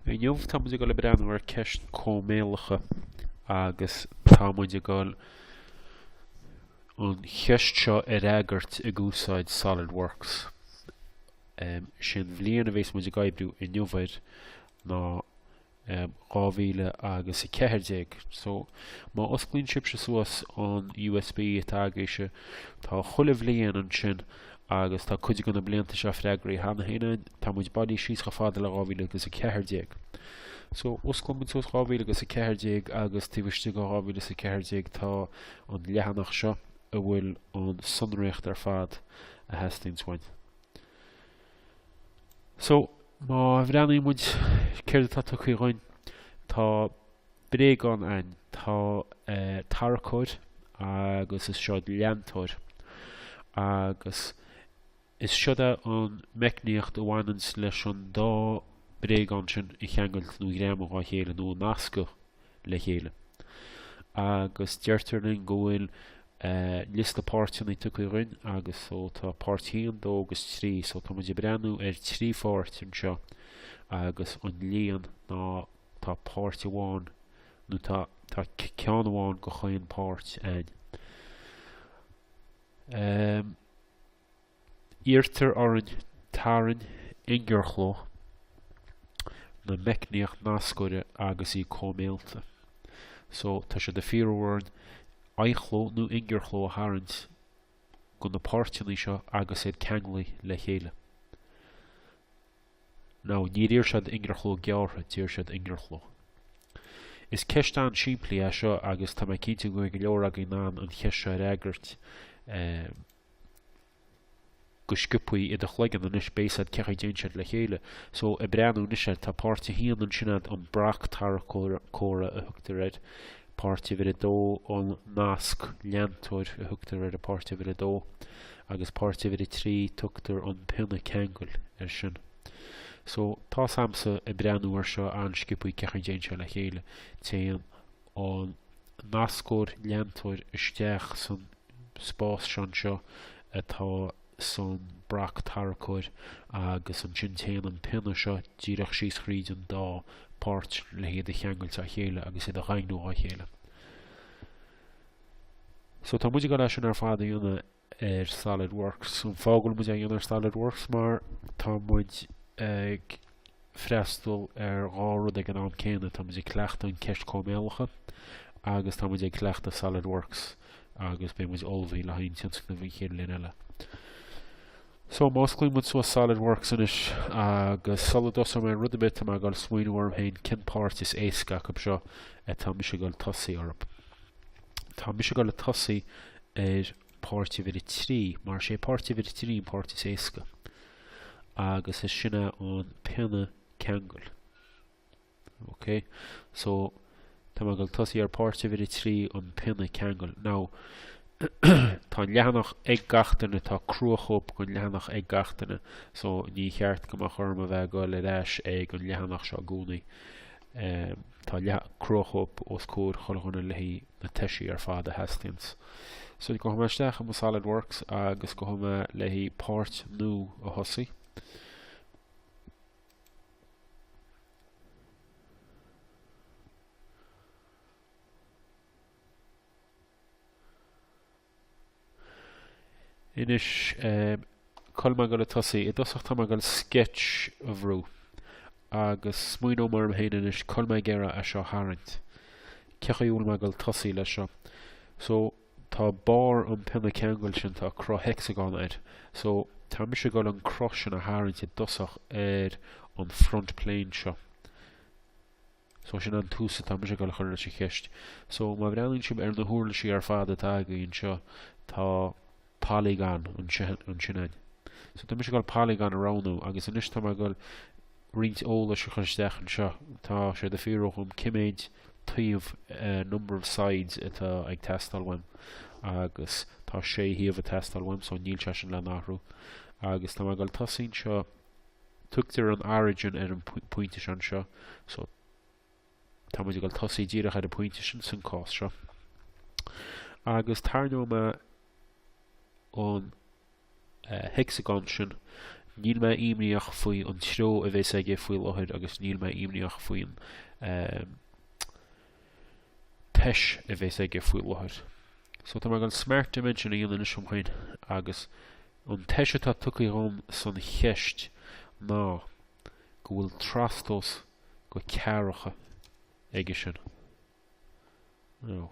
Inniu tá muid ag dul ag breathnú ar ceist cóimeálacha agus tá muid ag dul an cheist seo ar fhreagairt ag úsáid SolidWorks. Um, is an bhliain a bhéas muid ag oibriú inniu air ná 2000 agus 14. So, má osclaíonn sibhse suas an USB atá agaibhse, tá chuile bhliain ansin agus tá cuid de na blianta seo freagraithe cheana féin ann, tá muid bailithe síos chomh fada le 2000 agus 14. So, osclaíonn muid suas 2000 agus 14 agus taobh istigh de 2000 agus 14 tá an leathanach seo a bhfuil an sonraíocht ar fad a theastaíonns uainn. So, má bhreathnaíonn muid céard atá tugtha dhúinn, tá bréagán ann, tá tarracóir agus is seod leantóir. Agus is seod é an meicníocht a bhaineanns leis an dá bréagán sin a cheangailt nó a ghreamú dhá chéile nó a nascadh. le chéile. Agus deirtear linn go bhfuil liosta páirteanna tugtha againn agus so tá páirt haon, dó agus trí so tá muid ag breathnú ar thrí pháirt anseo agus an líon ná tá páirt amháin nó tá tá ceann amháin de chaon pháirt againn. Um, Iarrtar orainn tarraingt ingearchló na meicníocht nascóra agus í cóimeálta. So, tá sé de fíorú orainn aghaidhchló nó ingearchló a tharraingt de na páirteannaí seo agus iad ceanglaithe le chéile. Now, níor iarr siad ingearchló gearrtha, d'iarr siad ingearchló. Is ceist an-simplí é seo agus tá mé cinnte go mbeidh go leor againn in ann an cheist seo a fhreagairt. go scioptha in do chloigeann anois beidh a fhios a'd cén chaoi a dtéann siad le chéile so ag breathnú anois air tá páirt a haon ansin sin é an brac tarracóra a thugtar air páirt uimhir a dó an nasc leantóir a thugtar ar an páirt uimhir a dó agus páirt uimhir a trí tugtar an pionna ceangail air sin so tá's a'msa ag breathnú air seo an-scioptha cén chaoi a dtéann siad le chéile téann an nascóir leantóir isteach san spás san seo atá san brac tarracóir agus ansin téann an pionna seo díreach síos thríd an dá páirt le hiad a cheangailt dá chéile agus iad a dhaingniú dá chéile. So tá muid ag dul leis sin ar fad a dhéanamh ar Solid Works. An fáth go bhfuil muid a' dhéanamh ar Solid Works mar tá muid ag freastal ar dhá rud ag an am céanna. Táimid ag cleachtadh an cheist chóimeálacha agus táimid ag cleachtadh Solid Works agus beidh muid ullmhaithe le haghaidh an tionscnaimh an chéad linn eile. So, má osclaíonn muid suas Solid Works anois agus sula dtosóidh mé rud ar bith tá mé ag dul a smaoiniú orm féin cén páirt is éasca acu seo atá mise ag dul a tosaí orthu. Tá mise ag dul a tosaí ar páirt uimhir a trí mar is é páirt uimhir a trí an páirt is éasca. agus is sin é an pionna ceangail. Ok, so tá mé ag dul tosaí ar páirt uimhir a trí an pionna ceangail. Now, tá an leathanach ag gach duine, tá cruachóip den leathanach ag gach duine, so ní cheart go mbeadh orm a bheith ag dul ar ais ag an leathanach seo i gcónaí. Um, Tá cruachóip os comhair chuile dhuine leis na toisí ar fad a theastaíonns. So gabhfaidh mé isteach i mo Solid Works agus gabhfaidh mé le páirt nua a thosaí. Anois, cá bhfuil mé ag dul a tosaí? I dtosach tá mé ag dul sketch a bhrú. Agus smaoineoidh mé orm féin anois, cá bhfuil mé ag iarraidh é seo a tharraingt? Cén chaoi a bhfuil mé ag dul a tosaí leis seo? So, tá barr an pionna ceangail sin, tá cruth hexagon air. So, tá mise ag dul an cruth sin a tharraingt i dtosach ar an front plane seo. So, sin an tús atá mise ag dul a chur leis an cheist. So, má bhreathnaíonn sibh ar na huirlisí ar fad atá againn anseo, tá polygon ansin ann. So, tá mise ag dul polygon a roghnú, agus anois tá mé ag dul roinnt eolais a chur isteach anseo. Tá sé ag fiafraí dhíom cé méid taobh eh, number of sides atá ag teastáil uaim, agus tá sé thaobh ag teastáil uaim, so níl sé sin le n-athrú. Agus tá mé ag dul tosaí anseo Tugtar an Origin ar an pointe seo anseo so tá muid ag dul a tosaí díreach ar an pointe sin san cás seo. Agus tarraingeoidh mé an eh, hexagon sin níl mé imníoch faoi an treo a bheas aige faoi láthair agus níl mé imníoch faoin um, tois a bhéas aige faoi láthair. So tá mé ag dul smart dimension a dhéanamh anois ar mo cheann agus an tois atá tugtha dhom san cheist ná go bhfuil trastomhas de ceathracha aige sin. Now.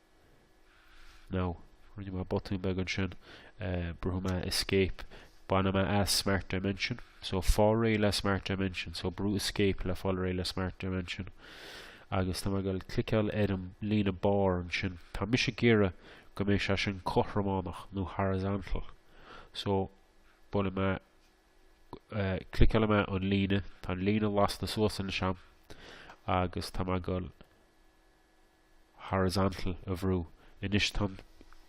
no, rinne mé botún beag ansin, brúfaidh mé escape, bainfidh mé as smart dimension, so fáil réidh le smart dimension, so brú escape le fáil réidh le smart dimension, agus tá mé ag dul cliceáil ar an líne barr ansin, tá mise ag iarraidh go mbeidh sé sin cothrománach nó horizontal, so buailfidh mé, cliceálfaidh mé an líne, tá an líne lasta suas anois agam, agus tá mé ag horizontal a bhrú. Anois tá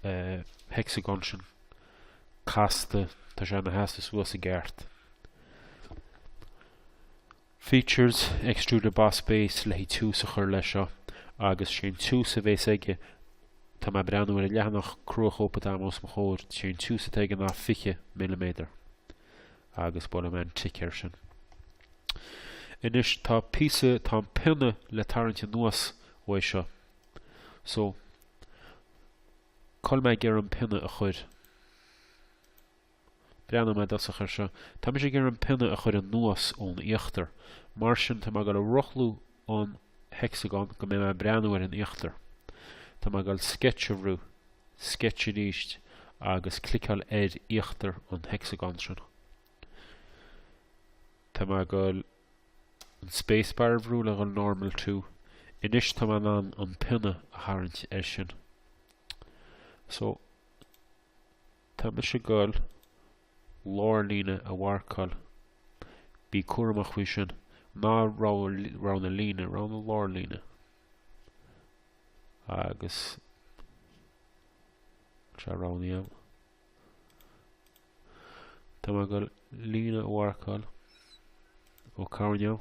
an hexagon sin casta, tá sé ina sheasamh suas i gceart. Features, Extruded Boss Base, le haghaidh tiús a chur leis seo, agus sé an tiús a bhéas aige, tá mé ag breathnú ar an leathanach cruachóip atá agam os mo chomhair, sé an tiús atá aige ná 20 milliméadar. Agus buailfidh mé an tic air sin. Anois tá píosa, tá an pionna le tarraingt anuas uaidh seo. So, cá bhfuil mé ag iarraidh an pionna a chur. Breathnóidh mé i dtosach air seo. Tá mise ag iarraidh an pionna a chur anuas ón íochtar. Mar sin tá mé ag dul a rothlú an Hexagon go mbeidh mé ag breathnú ar an íochtar. Tá mé ag dul Sketch a bhrú, Sketch arís agus cliceáil ar íochtar an Hexagon sin. Tá mé ag dul an spacebar a bhrú le dhul Normal to. Anois tá mé in ann an pionna a tharraingt air sin. So, Tá mise ag dul lárlíne a mharcáil. Bí cúramach faoi sin. Ná roghnaigh an líne, roghnaigh an lárlíne. Agus tá sé roghnaithe agam. Tá mé ag dul líne a mharcáil ó choirnéal.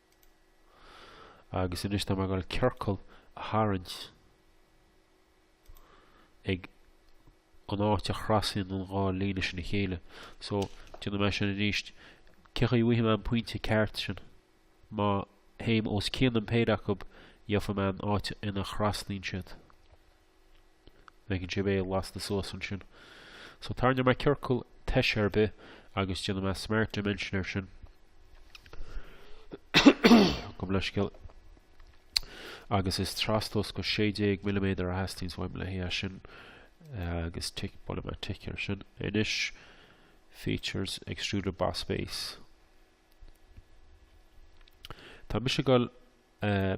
Agus anois tá mé ag dul ciorcal a tharraingt ag an áit a chrasaíonn an dhá líne sin a chéile. So, déanfaidh mé sin arís. Cé chaoi a bhfaighidh mé an pointe ceart sin? Má théim os cionn an péire acu, gheofaidh mé an áit ina chraslaíonn siad. Bhfeiceann sibh é lasta suas ansin. So tarraingeoidh mé ciorcal toise ar bith agus déanfaidh mé smart dimension air sin. Gabh mo leithscéal. Agus is trastomhas de 16 milliméadar a theastaíonns uaim le haghaidh sin agus tic buailfidh mé tic ar sin. Anois features extruded boss base. Tá mise ag dul eh,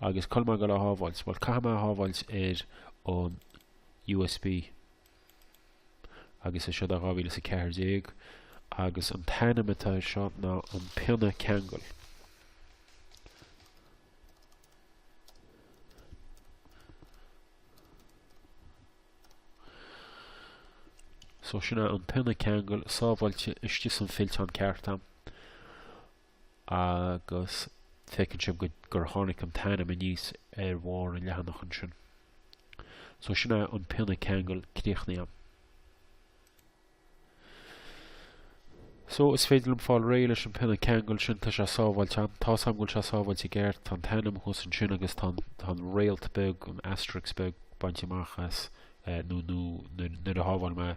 Agus tá mé ag goil é a shábháilt. Bhuel, caithfidh mé é a shábháilt ar an USB. Agus é seo é dhá mhíle is a ceathair déag. Agus an t-ainm atá air seo ná an pionna ceangail. So sin é an pionna ceangail sábháilte istigh san fillteán ceart a'm. agus feiceann sibh go, gur tháinig an t-ainm aníos ar bharr an leathanach ansin. So sin é an pionna ceangail críochnaithe a'm. So is féidir liom fáil réidh leis an pionna ceangail sin, tá sé sábháilte a'm. Tá a fhios a'm go bhfuil sé sábháilte i gceart, tá an t-ainm thuas ansin agus tá an, tá an réalt beag, an asterisk beag bainte amach as, nó, nó, nuair, nuair a shábháil mé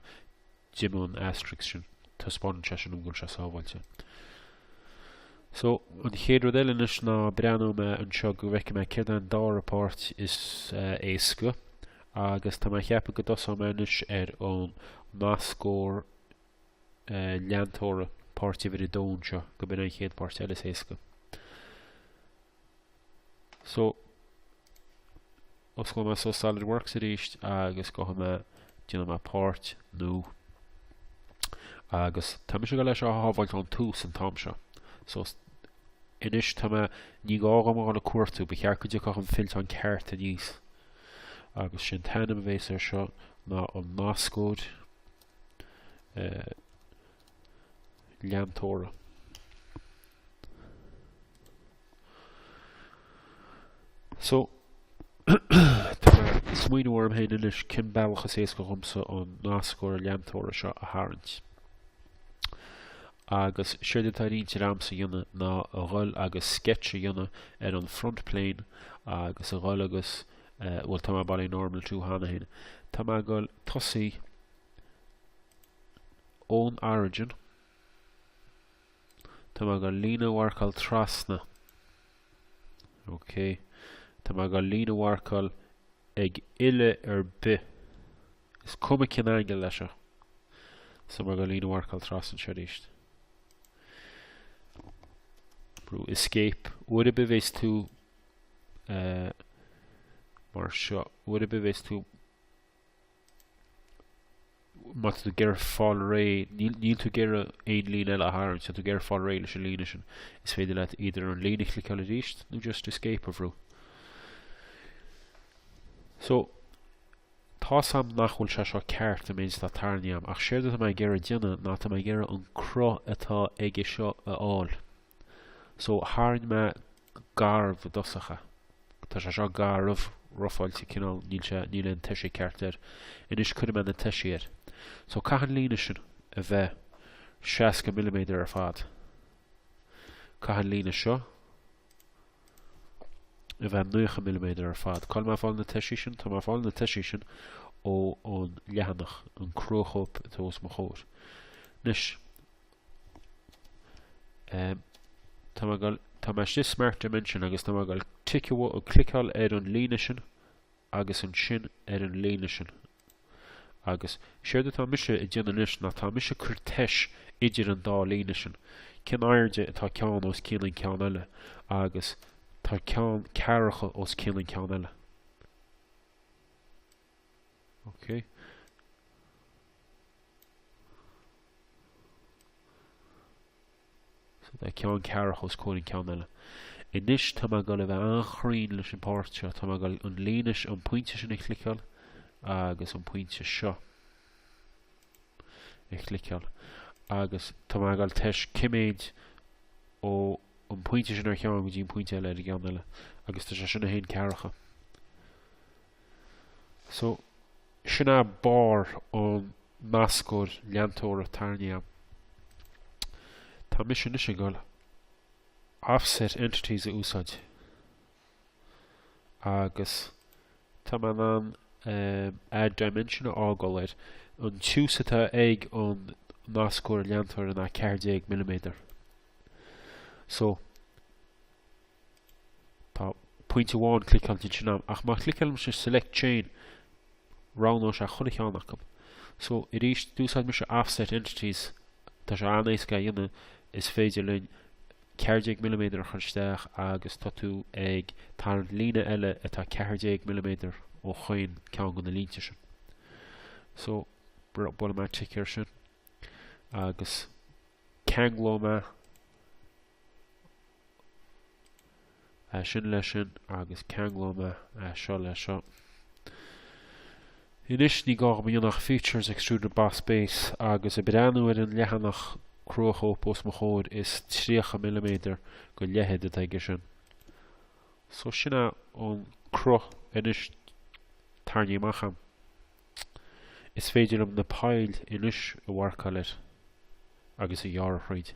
d'imigh an asterisk sin, taispeánann sé sin dom go bhfuil sé sábháilte. So, an chéad rud eile anois ná breathnóidh mé anseo go bhfeice mé céard é an dara páirt is éasca agus tá mé a cheapadh go dtosóidh mé anois ar an nascóir leantóra páirt uimhir a dó anseo go b'in é an chéad pháirt eile is éasca. So, osclóidh mé suas SolidWorks arís agus gabhfaidh mé, déanfaidh mé páirt, New, agus tá mise ag goil é a shábháilt ón tús an t-am seo. So, anois tá mé, ní gá dhom a dhul ag cuartú, ba cheart go dtiocfadh an fillteán ceart aníos. Agus is é an t-ainm a bhéas air seo ná an nascóir, eh, leantóra. So, tá mé ag smaoineamh orm féin anois cén bealach is éasca dhomsa an nascóir leantóra seo a tharraingt. Agus séard atá ar intinn a'msa a dhéanamh ná a dhul agus sketch a dhéanamh ar an front plane agus a dhul agus eh, bhuel tá mé bailithe Normal To cheana féin. Tá mé ag dul tosaí ón origin, tá mé ag goil líne a mharcáil trasna, ok, tá mé ag goil líne a mharcáil ag uille ar bith, is cuma cén angle é seo, so tá mé ag goil líne a mharcáil trasna anseo arís. Brúigh escape, uair ar bith a bheas tú uh, mar seo, uair ar bith a bheas tú Má tá tú ag iarraidh fáil réidh, níl, níl tú ag iarraidh aon líne eile a tharraingt, tá tú ag iarraidh fáil réidh leis an líne sin, is féidir leat either an líne a chliceáil arís nó just Escape a bhrú. So, tá a fhios a'm nach bhfuil sé seo ceart an méid atá tarraingthe a'm, ach séard atá mé ag iarraidh déanamh ná tá mé ag iarraidh an cruth atá aige seo a fháil. So, tharraing mé garbh i dtosach é. Tá sé seo garbh, rofáilte, cineál, níl sé, níl aon toise ceart air. Anois cuirfidh mé na toisí air. So, caithfidh an líne sin a bheith seasca milliméadar ar fad. Caithfidh an líne seo a bheith naocha milliméadar ar fad. Cá bhfuil mé ag fáil na toisí sin? Tá mé ag fáil na toisí sin ó an leathanach, an cruachóip atá os mo chomhair. Anois, Um, tá mé ag dul, tá mé istigh i Smart Dimension agus tá mé ag dul ag ticeáil nó ag cliceáil ar an líne sin agus ansin ar an líne sin. Agus séard atá mise a dhéanamh anois ná tá mise ag cur toise idir an dá líne sin. Cén airde atá ceann os cionn an ceann eile agus tá ceann ceathracha os cionn an ceann eile. Ok. So tá ceann ceathracha os comhair an ceann eile. Anois tá mé ag dul a bheith an-chruinn leis an páirt seo. Tá mé ag dul an líne seo, an pointe sin a chliceáil agus an pointe seo a chliceáil. Agus tá mé ag dul toise cé mhéad ó an pointe sin ar cheann go dtí an pointe eile ar an gceann eile. Agus tá sé sin a haon ceathracha. So, sin é barr an nascóir leantóra tarraingthe agam. Tá mise anois ag dul offset entities a úsáid. Agus tá mé in ann, um, add dimension a fhágáil air. An tiús atá ag an nascóir leantóra ná 14 mm. So, Tá pointe amháin cliceáilte ansin agam ach má chliceálaimse Select Chain roghnóidh sé chuile cheann acu. So, arís, d'úsáid mise Offset Entities, tá sé an-éasca a dhéanamh, is féidir linn ceathair déag milliméadar a chur isteach agus tá tú ag tarraingt líne eile atá ceathair déag milliméadar ó chaon ceann de na línte sin. So, buailfidh mé tic air sin agus ceanglóidh mé é sin leis sin agus ceanglóidh mé é seo leis seo. Anois ní gá dom ach features extruded boss base agus ag breathnú ar an leathanach cruachóip os mo chomhair is 30 milliméadar de leithead atá aige sin. So sin é an cruth anois tarraingthe amach agam. Is féidir liom na poill anois a mharcáil air agus a ghearradh thríd.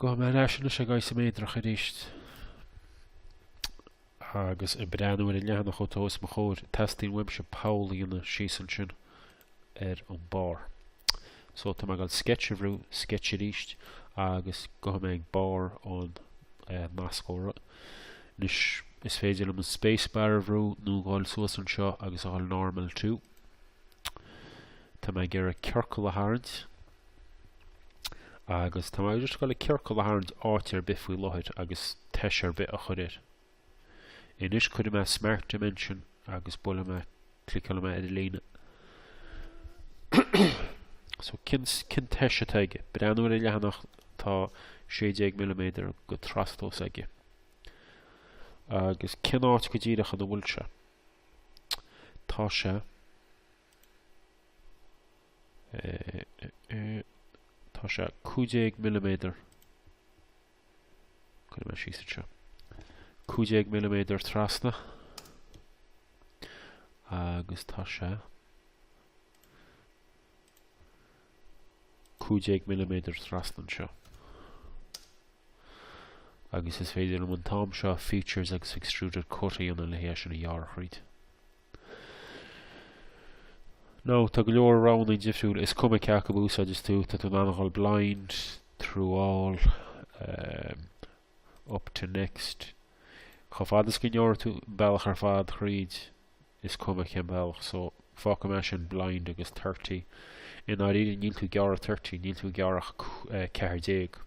Gabhfaidh mé ar ais anois ag isoméadrach arís agus ag breathnú ar an leathanach atá os mo chomhair, teastaíonn uaimse poll a dhéanamh síos ansin ar an barr. So tá mé ag gabháil sketch a bhrú, sketch arís, agus gabhfaidh mé ag barr an nascóra. Anois is féidir liom an spacebar a bhrú nó dhul suas anseo agus a dhul normal to. Tá mé ag iarraidh ciorcal a tharraingt. Agus tá mé just ag gabháil ciorcal a tharraingt áit ar bith faoi láthair agus toise ar bith a chur air. Anois cuirfidh mé Smart Dimension agus buailfidh mé, cliceálfaidh mé ar an líne. so cén, cén toise atá aige? Breathnú ar an leathanach tá 16 mm go trastomhas aige. Agus cén áit go díreach an bhfuil sé? Tá sé Tá sé 15 milliméadar. Cuirfidh mé síos anseo. 15 milliméadar trasna. Agus tá sé 15 milliméadar trasna anseo. Agus is féidir liom an t-am seo features agus extruded cut a dhéanamh le hé sin a ghearradh thríd. Nó, tá go leor roghanna difriúil, is cuma cé acu a úsáideas tú, tá tú in ann a dhul blind, through all, um, up to next. Chomh fada is go ngearrfaidh tú bealach ar fad thríd, is cuma cén bealach, so fágfaidh mé sin blind agus 30. I ndáiríre, níl tú ag gearradh 30, níl tú ag gearradh ach 14. Eh,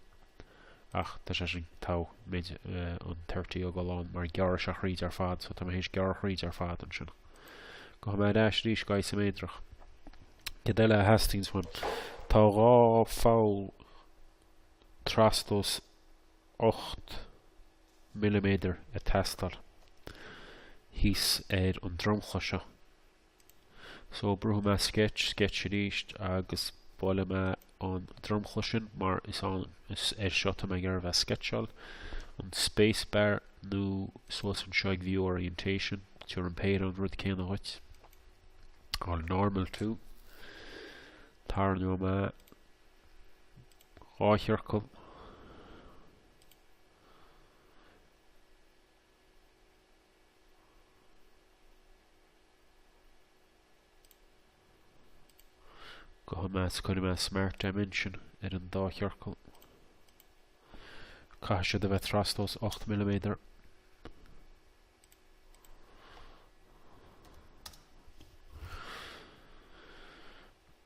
ach tá sé sin tá muid an 30 a fhágáil ann mar gearrfaidh sé thríd ar fad so tá mé théis gearradh thríd ar fad ansin. Gabhfaidh mé ar ais arís go isoméadrach. Céard eile a theastaíonns uainn? Tá dhá pholl trastomhas ocht milliméadar ag teastáil thíos ar an dromchla seo. So brúfaidh mé sketch, sketch arís agus buailfidh mé an dromchla sin mar is ann is air seo atá mé ag iarraidh a bheith ag sceitseáil. An spacebar nó suas anseo ag View Orientation, tabharfaidh an péire an rud céanna dhuit. A dhul normal to. Tarraingeoidh mé dhá chiorcal Gabhfaidh mé is cuirfidh mé Smart Dimension ar an dá chiorcal. Caithfidh siad a bheith trastomhas 8 milliméadar.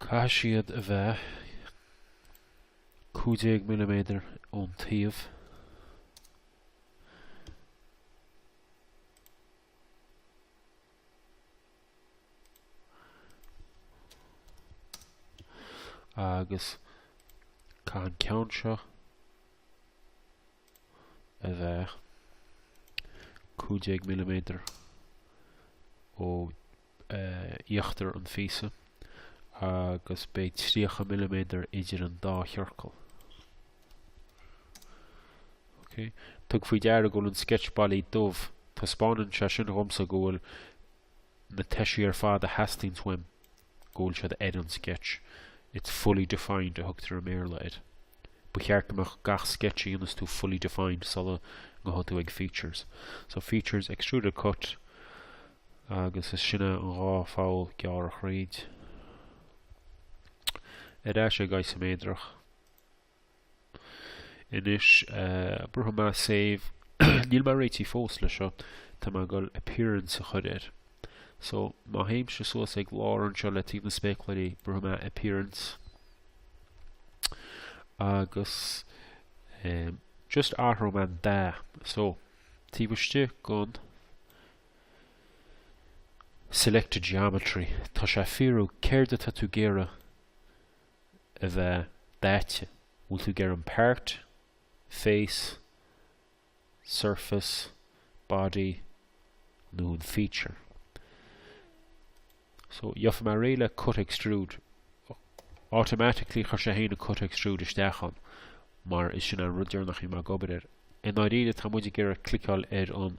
Caithfidh siad a bheith 15 milliméadar ón taobh. Agus caithfidh an ceann seo a bheith 15 milliméadar ó íochtar an phíosa agus beidh tríocha milliméadar idir an dá chiorcal. Okay. Tug faoi deara go bhfuil an sketch bailithe dubh. Taispeánann sé sin dhomsa go bhfuil na toisí ar fad a theastaíonns uaim go bhfuil siad ar an sketch. It's fully defined a thugtar i mBéarla air. Ba cheart go mbeadh gach sketch a dhéanfas tú fully defined sula ngabhfaidh tú ag features. So features, extruded cut, Agus is sin é an dhá pholl gearrtha thríd. Ar ais ag Isoméadrach. Anois, brúfaidh mé save. Níl mé réitithe fós le seo, tá mé ag dul appearance a chuir air. So, má théimse suas ag lár anseo le taobh na spéacláirí, brúfaidh mé appearance. Agus, just athróidh mé an dath. So, taobh istigh gon Selected geometry, tá sé ag fiafraí céard atá tú ag iarraidh a bheith daite, bhfuil tú ag iarraidh an part, face, surface, body nó an feature. so gheobhaidh mé réidh le cut extrude automatically chuir sé féin an cut extrude isteach ann mar is sin an rud deireanach a bhí mé ag obair air. I ndáiríre tá muid ag iarraidh cliceáil ar an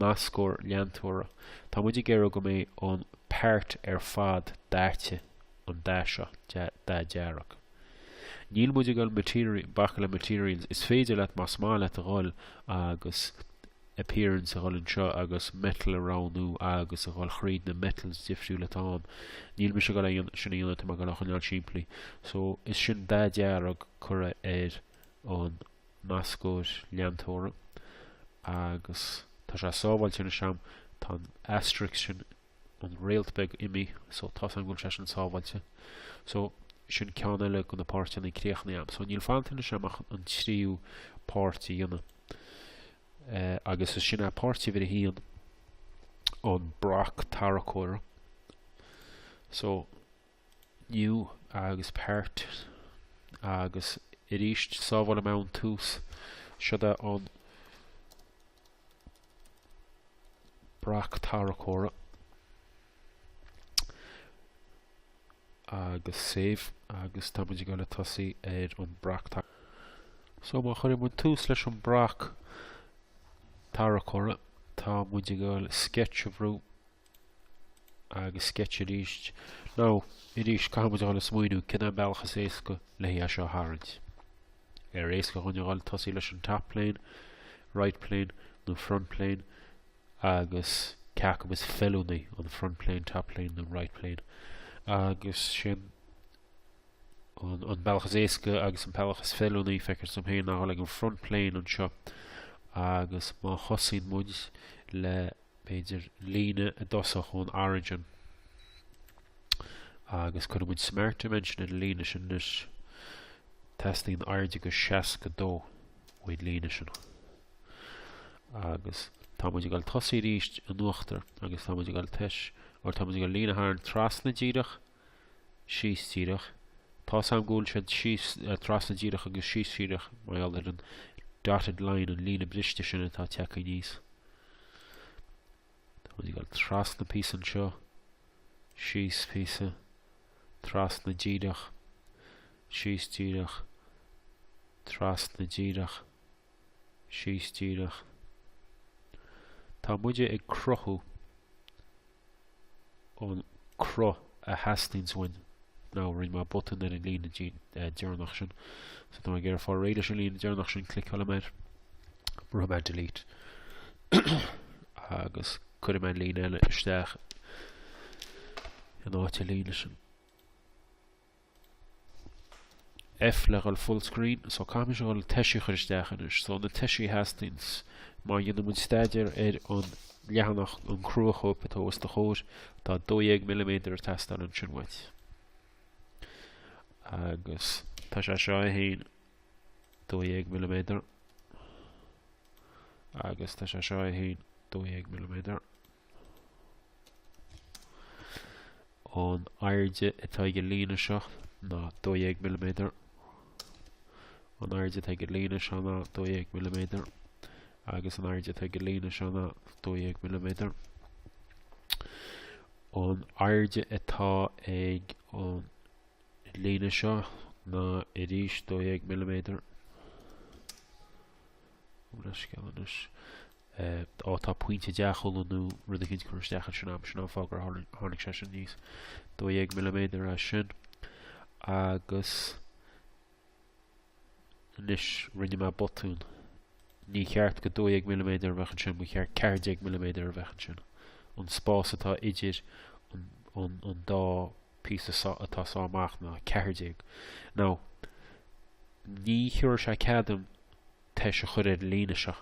nascóir leantóra. Tá muid ag iarraidh go mbeidh an part ar fad daite, an dath seo, dath dearg. Níl muid ag dul material, bacadh le materials, is féidir leat más maith leat a dhul agus appearance a dhul anseo agus metal a roghnú agus a dhul thríd na metals difriúla atá ann. Níl mise ag dul é sin a dhéanamh, tá mé ag dul á choinneáil simplí. So, is sin dath dearg curtha ar an nascóir leantóra agus tá sé sábháilte anois agam, tá an asterisk sin an réalt beag imithe so tá a fhios am go bhfuil sé sin sábháilte so sin ceann eile de na páirteanna críochnaithe am so níl fanta anois am ach an tríú páirt a dhéanamh eh, agus is sin é páirt uimhir a haon an breaic tarracóra so New agus Part agus arís sábháil am an tús is ea an breaic tarracóra agus Save agus tá muid ag dul ag tosaí ar an breaic tarracóra. So má chuireann muid tús leis an breaic tarracóra tá muid ag dul Sketch a bhrú agus Sketch arís. Nó, arís, caithfidh muid a dhul ag smaoineamh cén bealach is éasca le hé seo a tharraingt. Ar éasca dhúinn a dhul tosaí leis an top plane, right plane nó front plane agus cé acub is feiliúnaí an front plane, top plane nó right plane agus sin an, an bealach is éasca agus an bealach is feiliúnaí feictear dhom héin a dhul ag an front plane anseo agus má thosaíonn muid le b'fhéidir, líne i dtosach ón Origin, agus cuirfidh muid smart dimension ar an líne sin anois. Teastaíonn airde de 62 ón líne sin. Agus tá muid ag dul ag tosaí arís in uachtar, agus tá muid ag dul tois, or tá muid ag dul líne a tharraingt trasna díreach, síos díreach. Tá a fhios am go bhfuil sé síos, trasna díreach agus síos díreach mar gheall ar an dotted line, an líne briste sin atá ag teacht aníos. Tá muid ag dul trasna píosa anseo, síos píosa, trasna díreach, síos díreach, trasna díreach, síos díreach. Tá muide ag cruthú an cruth a theastaíonns uainn nó rinne mé botún ar an líne deireanach sin so tá mé ag iarraidh fáil réidh leis an líne deireanach sin cliceálfaidh mé air brúfaidh mé delete agus cuirfidh mé an líne eile isteach in áit an líne sin F, Le dhul full screen, so caithfimid a dhul toisí a chur isteach anois, so na toisí a theastaíonns má dhéanann muid staidéar ar an leathanach, an cruachóip atá os do chomhair, tá 12 milliméadar ag teastáil ansin uait. Agus tá sé seo é héin 12 milliméadar agus tá sé seo é féin 12 milliméadar. An airde atá ag an líne seo ná 12 milliméadar. An airde atá ag an líne seo ná 12 milliméadar. Agus an airde atá ag an líne seo ná 12 milliméadar. An airde atá ag an líne seo ná arís 12 milliméadar. Ó tá pointe deachúil nó rud éicint curtha isteach ansin agam, sin an fáth gur tháinig sé sin aníos 12 milliméadar ansin. Agus anois rinne mé botún. Ní cheart go 12 milliméadar a bheadh ansin, ba cheart 14 milliméadar a bheadh ansin. An spás atá idir an dá píosa seo atá ag sá amach ná ceathair déag, nó ní thiubharfaidh sé cead dom tois a chur ar an líne seo.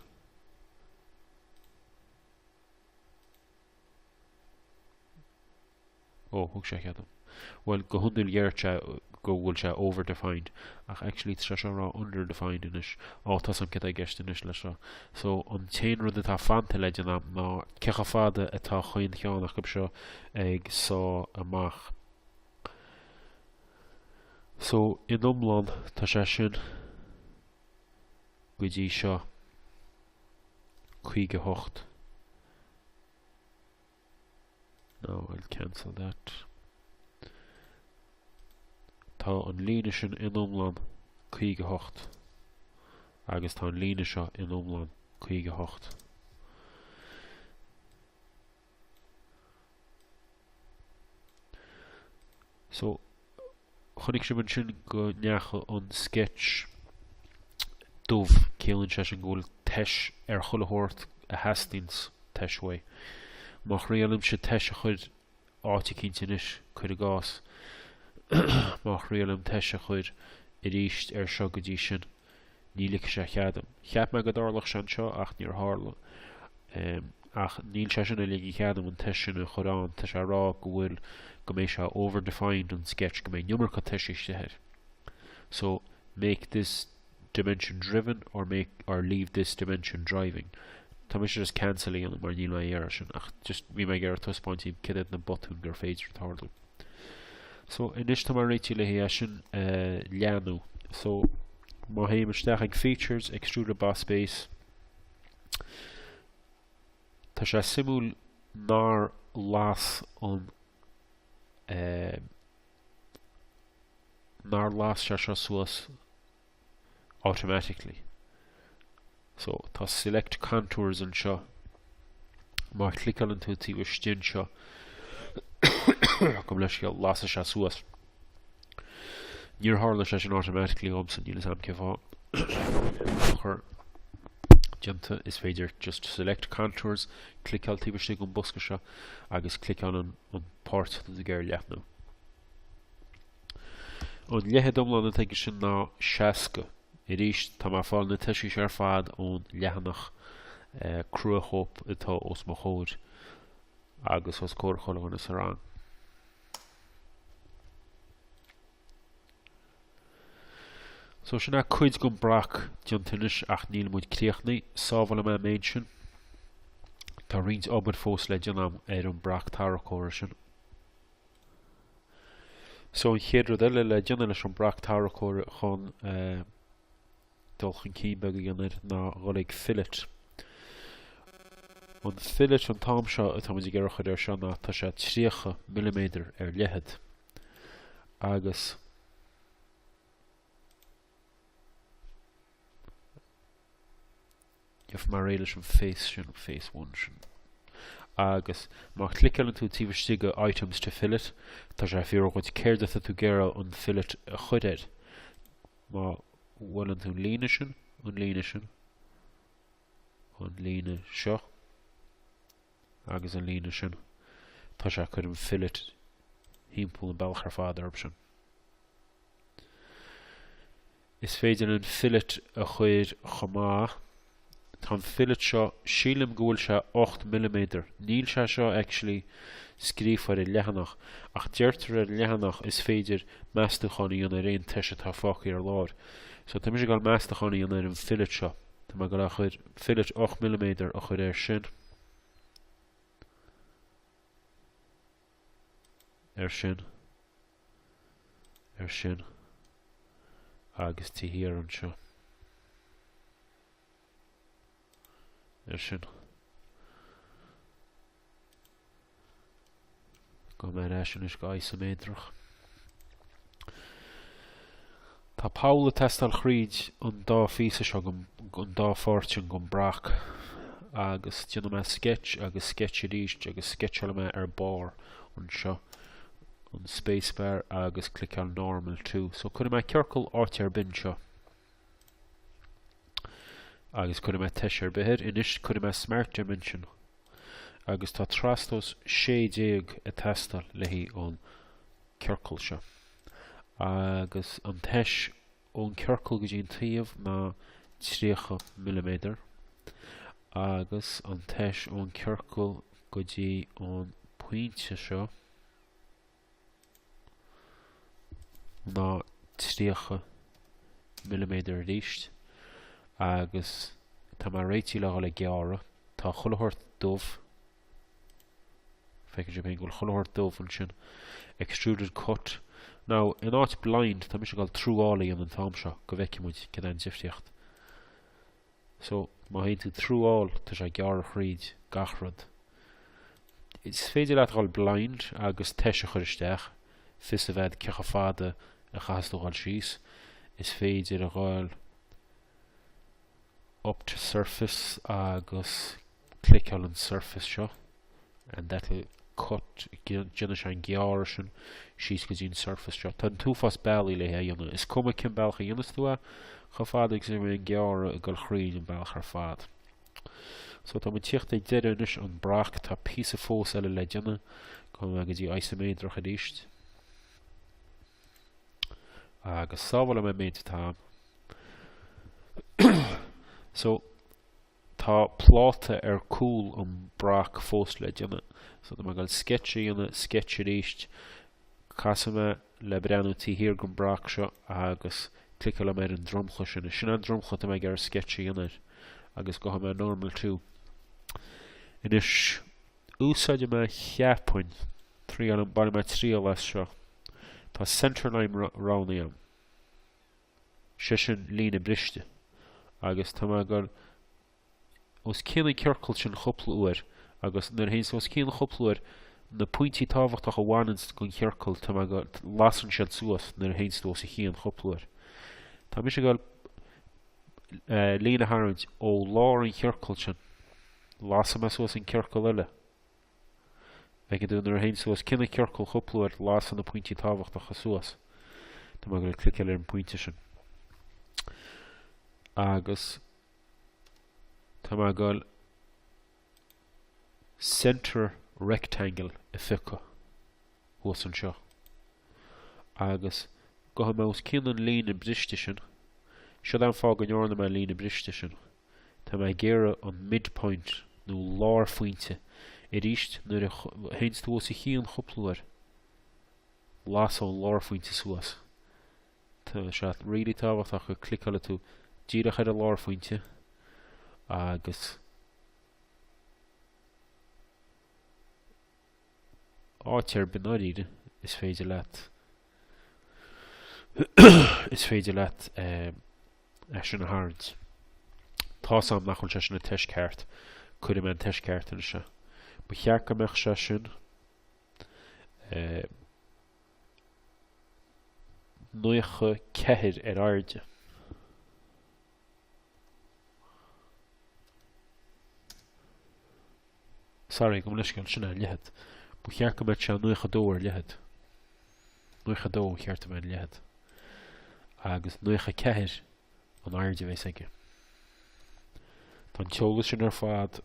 Ó, thug sé cead dom. Bhuel, go hiondúil déarfadh sé go bhfuil sé over-defined, ach actually tá sé seo ag rá under-defined anois. Ó, tá a fhios agam céard atá i gceist anois le seo. So, an t-aon rud atá fanta le déanamh ná cé chomh fada atá chaon cheann acu seo ag sá amach. So, in iomlán, tá sé sin, go dtí seo, 58. No, I'll cancel that. Tá an líne sin in iomlán 58 agus tá an líne seo in iomlán 58. So chonaic sibh ansin go ndeachaigh an sketch dubh, ciallaíonn sé sin go bhfuil tois ar chuile shórt a theastaíonns tois uaidh. Má thriailimse tois a chur áit eicínt anois, cuir i gcás, má thriailim tois a chur arís ar seo go dtí sin, Ní ligfidh sé cead dom. Cheap mé go dtarlódh sé anseo ach níor tharla. Ach níl sé sin ag ligean cead dom an tois sin a chur ann, tá sé ag rá go bhfuil, go mbeidh sé over-defined an sketch, go mbeidh an iomarca toisí istigh air. So, make this dimension driven or make or leave this dimension driving. Tá mise just cancel a dhéanamh mar níl mé dhá iarraidh sin ach just bhí mé ag iarraidh taispeáint daoibh céard iad na botúin gur féidir tarlú. So, anois tá mé réitithe le hé sin a leathnú. So, má théim isteach ag Features, Extruded Boss Base, tá sé suimiúil nár las an eh, nár las sé seo suas automatically. So tá select contours anseo. Má chliceálann tú taobh istigh anseo, go leis go lasfaidh sé suas. Níor tharla sé sin automatically dhomsa, níl a fhios agam cén fáth. Ach uaireanta is féidir just select contours, cliceáil taobh istigh den bosca seo agus cliceáil an, an páirt atá tú ag iarraidh a leathnú. An leithead iomlán atá aige sin ná seasca. Arís, tá mé ag fáil na toisí ar fad ón leathanach cruachóip atá os mo chomhair agus os comhair chuile dhuine sa rang. So sin é cuid den brac déanta anois ach níl muid críochnaithe. Sábhálfaidh mé an méid sin. Tá roinnt obair fós le déanamh ar an brac tarracóra sin. So an chéad rud eile le déanamh leis an brac tarracóir chun eh, dul chun cinn beag a dhéanamh ná dhul ag fillet. An fillet an t-am seo atá muid ag iarraidh a chuir air seo ná tá sé 30 mm ar leithead. Agus Gheobhaidh mé réidh leis an Face sin, an Face One sin. Agus má chliceálann tú taobh istigh de Items to Fillet, tá sé ag fiafraí dhuit céard atá tú ag iarraidh an fillet a chuir air. Má bhuaileann tú an líne sin, an líne sin, an líne seo agus an líne sin. Tá sé ag cur an fillet thimpeall an bealach ar fad orthu sin. Is féidir an fillet a chuir chomh maith. Tá an fillet seo, sílim go bhfuil sé 8 milliméadar. Níl sé seo actually scríofa ar an leathanach, ach deirtear ar an leathanach is féidir meastúchán a dhéanamh ar aon toise atá fágtha ar lár. So tá mise ag goil meastúchán a dhéanamh ar an fillet seo. Tá mé ag goil a chuir fillet ocht milliméadar a chuir air sin. Air sin. Air sin. Agus taobh thiar anseo. Air sin. Gabhfaidh mé ar ais anois go isoméadrach. Tá poll ag teastáil thríd an dá phíosa seo, an dá pháirt sin den brac, agus déanfaidh mé sketch agus sketch arís agus sketcheálfaidh mé ar barr anseo an spacebar agus cliceáil normal to. So cuirfidh mé ciorcal áit ar bith anseo. Agus cuirfidh mé toise ar bith air anois, cuirfidh mé smart dimension, agus tá trastomhas 16 ag teastáil le haghaidh an ciorcal seo. Agus an toise ón ciorcal go dtí an taobh ná 30 milliméadar, agus an toise ón ciorcal go dtí an pointe seo, ná 30 milliméadar aríst agus tá mé réitithe le dhul ag gearradh. Tá chuile shórt dubh, feicfidh sibh féin go bhfuil chuile shórt dubh ansin, extruded cut. Now, in áit blind, tá mise ag dul through all a dhéanamh an t-am seo go bhfeicfidh muid céard é an difríocht. So, má théann tú through all, tá sé ag gearradh thríd gach rud. Is féidir leat dhul blind agus toise a chur isteach, fios a bheith agat cé chomh fada a chaithfeas tú dhul síos. Is féidir a dhul up to surface agus cliceáil an surface seo and that will cut déanfaidh sé an gearradh sin síos go dtí an surface seo. Tá an t-uafás bealaí le é a dhéanamh. Is cuma cén bealach a dhéanfas tú é, chomh fada agus an gearradh ag dul thríd an bealach ar fad. So tá mé ag tíocht ag deireadh anois an brac, tá píosa fós eile le déanamh, gabhfaidh mé go dtí isoméadrach aríst. Agus sábhálfaidh mé an méid atá. so Tá pláta ar cúl an brac fós le déanamh. So tá mé ag dul sketch a dhéanamh, sketch arís. Casfaidh mé le breathnú taobh thiar den brac seo agus cliceálfaidh mé ar an dromchla sin. Sin an dromchla atá mé ag iarraidh sketch a dhéanamh air. Agus gabhfaidh mé normal to. Anois, úsáidfidh mé cheapfainn, triail, bainfidh mé triail as seo. Tá centerline roghnaithe agam. sé sin líne briste, agus tá mé ag dul os cionn an ciorcail sin chúpla uair, agus nuair a théanns tú os cionn chúpla uair, na pointí tábhachtacha a bhaineanns gon chiorcal, tá mé ag dul, lasann siad suas nuair a théanns tú os a chionn chúpla uair. Tá mise ag dul líne a tharraingt ó lár an chiorcail sin, lasfaidh mé suas an ciorcal eile, Feiceann tú, nuair a théanns tú os cionn an ciorcal chúpla uair lasann na pointí tábhachtacha suas. Tá mé ag dul cliceáil ar an pointe sin. Agus tá mé ag dul center rectangle a phiocadh thuas anseo. Agus gabhfaidh mé os cionn an líne briste sin, siod an fáth go ndearna mé an líne briste sin. Tá mé ag iarraidh an midpoint nó lárphointe arís nuair a théanns tú os a chionn chúpla uair. Las ón lárphointe suas. Tá sé really tábhachtach go gcliceálann tú díreach ar an lárphointe agus áit ar bith i ndáiríre, is féidir leat is féidir leat eh, sin a tharraingt. Tá a fhios agam nach bhfuil sé sin ag an toise ceart, cuirfidh mé an toise ceart anseo. Ba cheart go mbeadh sé sin eh, 94 ar airde. Sorry, gabh mo leithscéal ansin an leithead. Ba cheart go mbeadh sé 92 ar leithead. 92 cheart a bheith ar leithead. Agus 94 an airde a bhéas aige. Tá an t-eolas sin ar fad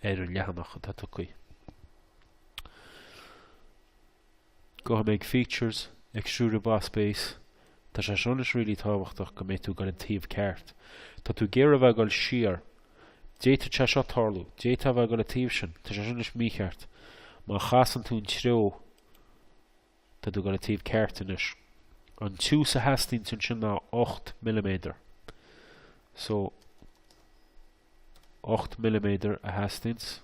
ar an leathanach atá tugtha. Gabhfaidh mé features, extruded boss base, tá sé seo anois really tábhachtach go mbeidh tú ag dul an taobh ceart. Tá tú ag iarraidh a bheith ag dul siar. D'fhéadfadh sé seo tarlú. D'fhéadfá a bheith ag dul an taobh sin. Tá sé seo anois mícheart. Má chasann tú an treo tá tú ag dul an taobh ceart anois. An tiús a theastaíonns ansin ná 8 milliméadar. So 8 milliméadar a theastaíonns.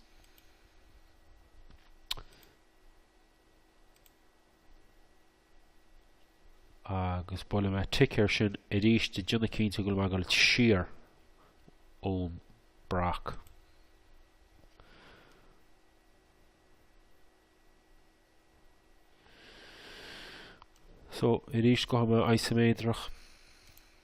agus buailfidh mé tic air sin arís ag déanamh cinnte go bhfuil mé ag dul siar ón brac. So, arís gabhfaidh mé isoméadrach.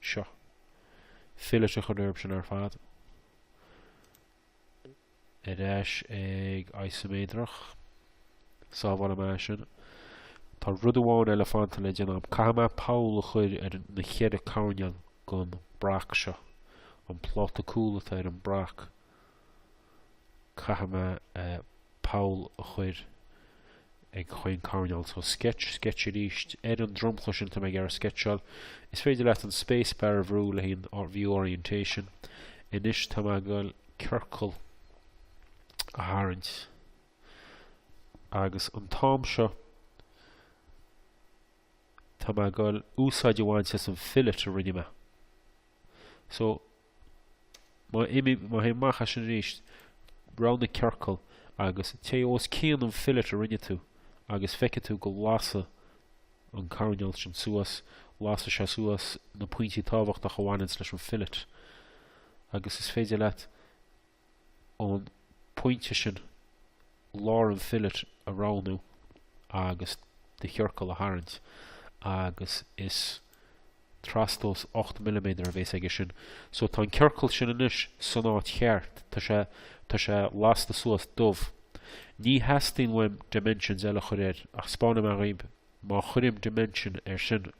seo. Fillet a chur orthu sin ar fad. Ar ais ag Isoméadrach. Sábhálfaidh mé é sin. Tá rud amháin eile fanta le déanamh. Caithfidh mé poll a chur ar na cheithre coirnéal den brac seo. An pláta cúlata ar an brac. Caithfidh mé poll a chur ag chaon choirnéal so sketch, sketch arís ar an dromchla sin atá mé ag iarraidh sceitseáil. Is féidir leat an space bar a bhrú le haghaidh an View Orientation. Anois tá mé ag dul ciorcal a tharraingt agus an t-am seo tá mé ag dul úsáid a bhaint as an fillet a rinne mé. So Má théim amach as sin arís, roghnaigh ciorcal agus téigh os cionn an fillet a rinne tú agus feicfidh tú go lasfaidh an coirnéal sin suas, lasfaidh sé suas na pointí tábhachtacha a bhaineanns leis an fillet agus is féidir leat ón bpointe sin, lár an fillet a roghnú agus do chiorcal a tharraingt agus is trastomhas ocht milliméadar a bhéas aige sin. So tá an ciorcal sin anois san áit cheart, tá sé, tá sé lasta suas dubh. Ní theastaíonn uaim dimensions eile a chur air ach spáinfidh mé dhaoib má chuirim dimension air sin,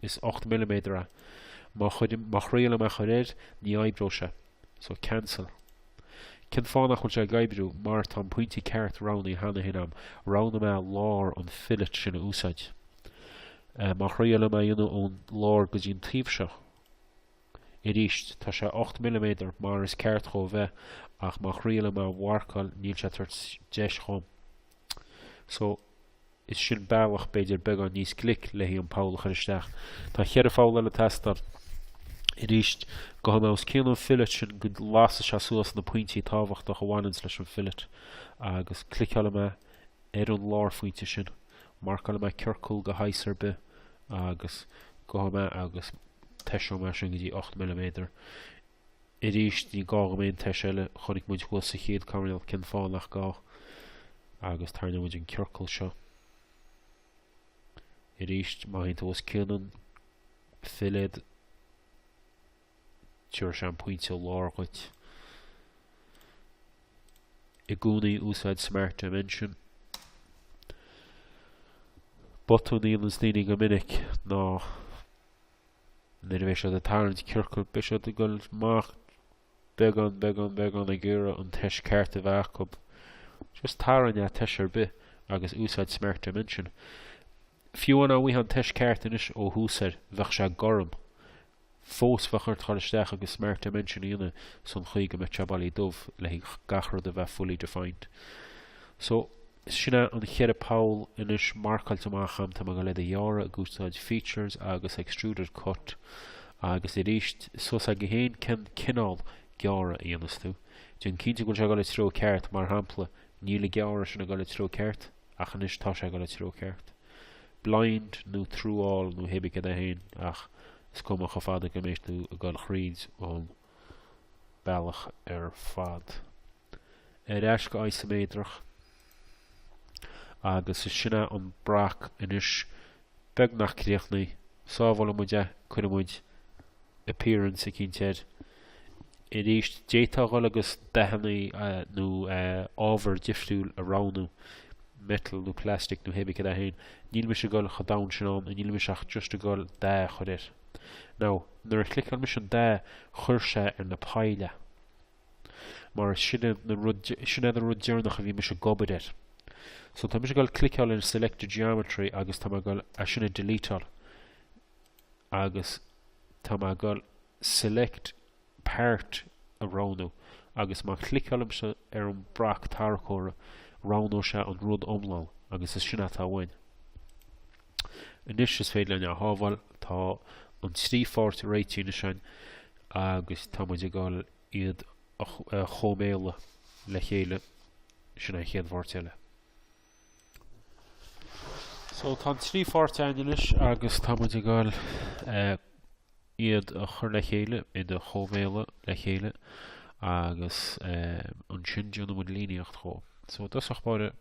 is 8 milliméadar é, má chuirim, má thriailim é a chur air, ní oibreoidh sé. So, cancel. Cén fáth nach bhfuil sé ag oibriú? Mar tá an pointe ceart roghnaithe cheana féin agam. Roghnaigh mé lár an fillet sin a úsáid. Eh, má thriailim é a dhéanamh ón lár go dtí an taobh seo. Arís, tá sé 8 milliméadar mar is ceart dhó bheith, ach má thriailim é a mharcáil, níl sé ag tabhairt deis dhom. So, is sin bealach b'fhéidir beagán níos glic le haghaidh an poll a chur isteach. Tá cheithre pholl eile ag teastáil. Arís, gabhfaidh mé os cionn an fillet sin go lasfaidh sé suas na pointí tábhachtach a bhaineanns leis an fillet agus cliceálfaidh mé ar an lárphointe sin, marcálfaidh mé ciorcal de shaghas ar bith agus gabhfaidh mé agus toiseoidh mé sin go dtí ocht milliméadar. Arís, ní gá go mbeidh aon toise eile, chonaic muid thuas sa chéad coirnéal cén fáth nach gá, agus tarraingeoidh muid an ciorcal seo. Arís, má théann tú os cionn an fillet, tabharfaidh sé an pointe i lár dhuit. I gcónaí úsáid Smart Dimension. Botún a dhéanann daoine go minic ná Nuair a bheidh siad ag tarraingt ciorcail beidh siad ag dul amach beagán beagán beagán ag iarraidh an toise ceart a bheith acu. Just tarraing ag toise ar bith agus úsáid smart dimension. Fiú amháin dá mbeadh an toise ceart anois ó thús air bheadh sé gorm. Fós bheadh ort dhul isteach agus smart dimension a dhéanamh san chaoi go mbeadh sé bailí dubh le haghaidh gach rud a bheith fully defined. So, is sin é an cheithre poll anois marcáilte amach agam, tá mé ag dul iad a ghearradh ag úsáid features agus extruded cut agus arís, suas agat féin cén cineál gearradh a dhéanfas tú. Déan cinnte go bhfuil sé ag dul an treo ceart, mar shampla, níl an gearradh sin ag dul an treo ceart, ach anois tá sé ag dul an treo ceart. Blind nó through all nó cibé céard é féin, ach is cuma chomh fada go mbeidh tú ag dul thríd an bealach ar fad. ar ais go isiméadrach agus is sin é an brac anois beagnach críochnaithe, sábhálfaidh muid é, cuirfidh muid appearance eicínt air arís, d'fhéadfá dhul agus dathannaí nó ábhar difriúil a roghnú, metal nó plastic nó hé bith cad é féin, níl mise ag dhul chomh domhain sin ann, níl mise ach just ag dhul dath a chur air. Now, nuair a chliceáil mise an dath, chuir sé ar na poill é. mar sin iad an rud deireanach a bhí mise ag obair air. So tá mise ag dhul cliceáil in selected geometry agus tá mé ag dhul é sin a deleteáil agus tá mé ag dhul select part a roghnú agus má chliceáilimse ar an brac tarracóra roghnóidh sé an rud iomlán agus is sin atá uainn. Anois is féidir linn é a shábháil, tá an trí pháirt réitithe anois againn agus tá muid ag dul iad a chóimeáil le chéile, sin é an chéad pháirt eile. So tá an trí pháirt againn anois agus tá muid ag dul iad a chur le chéile, iad a chóimeáil le chéile agus ansin déanfaidh muid líníocht dhó. So i dtosach báire,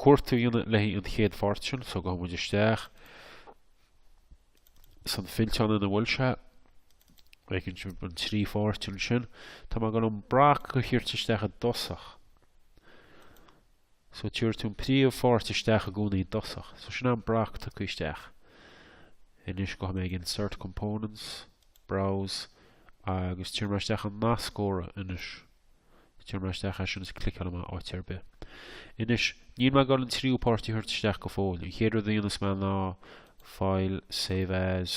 cuartú a dhéanamh le haghaidh an chéad pháirt sin, so gabhfaidh muid isteach san fillteán ina bhfuil sé, feiceann sibh an trí pháirt ansin, tá mé ag dul an brac a thabhairt isteach i dtosach, so tabharfaidh tú an príomhpháirt isteach i gcónaí i dtosach, so sin an brac tugtha isteach, anois gabhfaidh mé ag insert components, browse, agus tabharfaidh mé isteach an nascóra anois. Tabharfaidh mé isteach é sin is cliceálfaidh mé áit ar bith. Anois, níl mé ag dul an tríú páirt a thabhairt isteach go fóill. An chéad rud a dhéanfas mé ná File, Save As.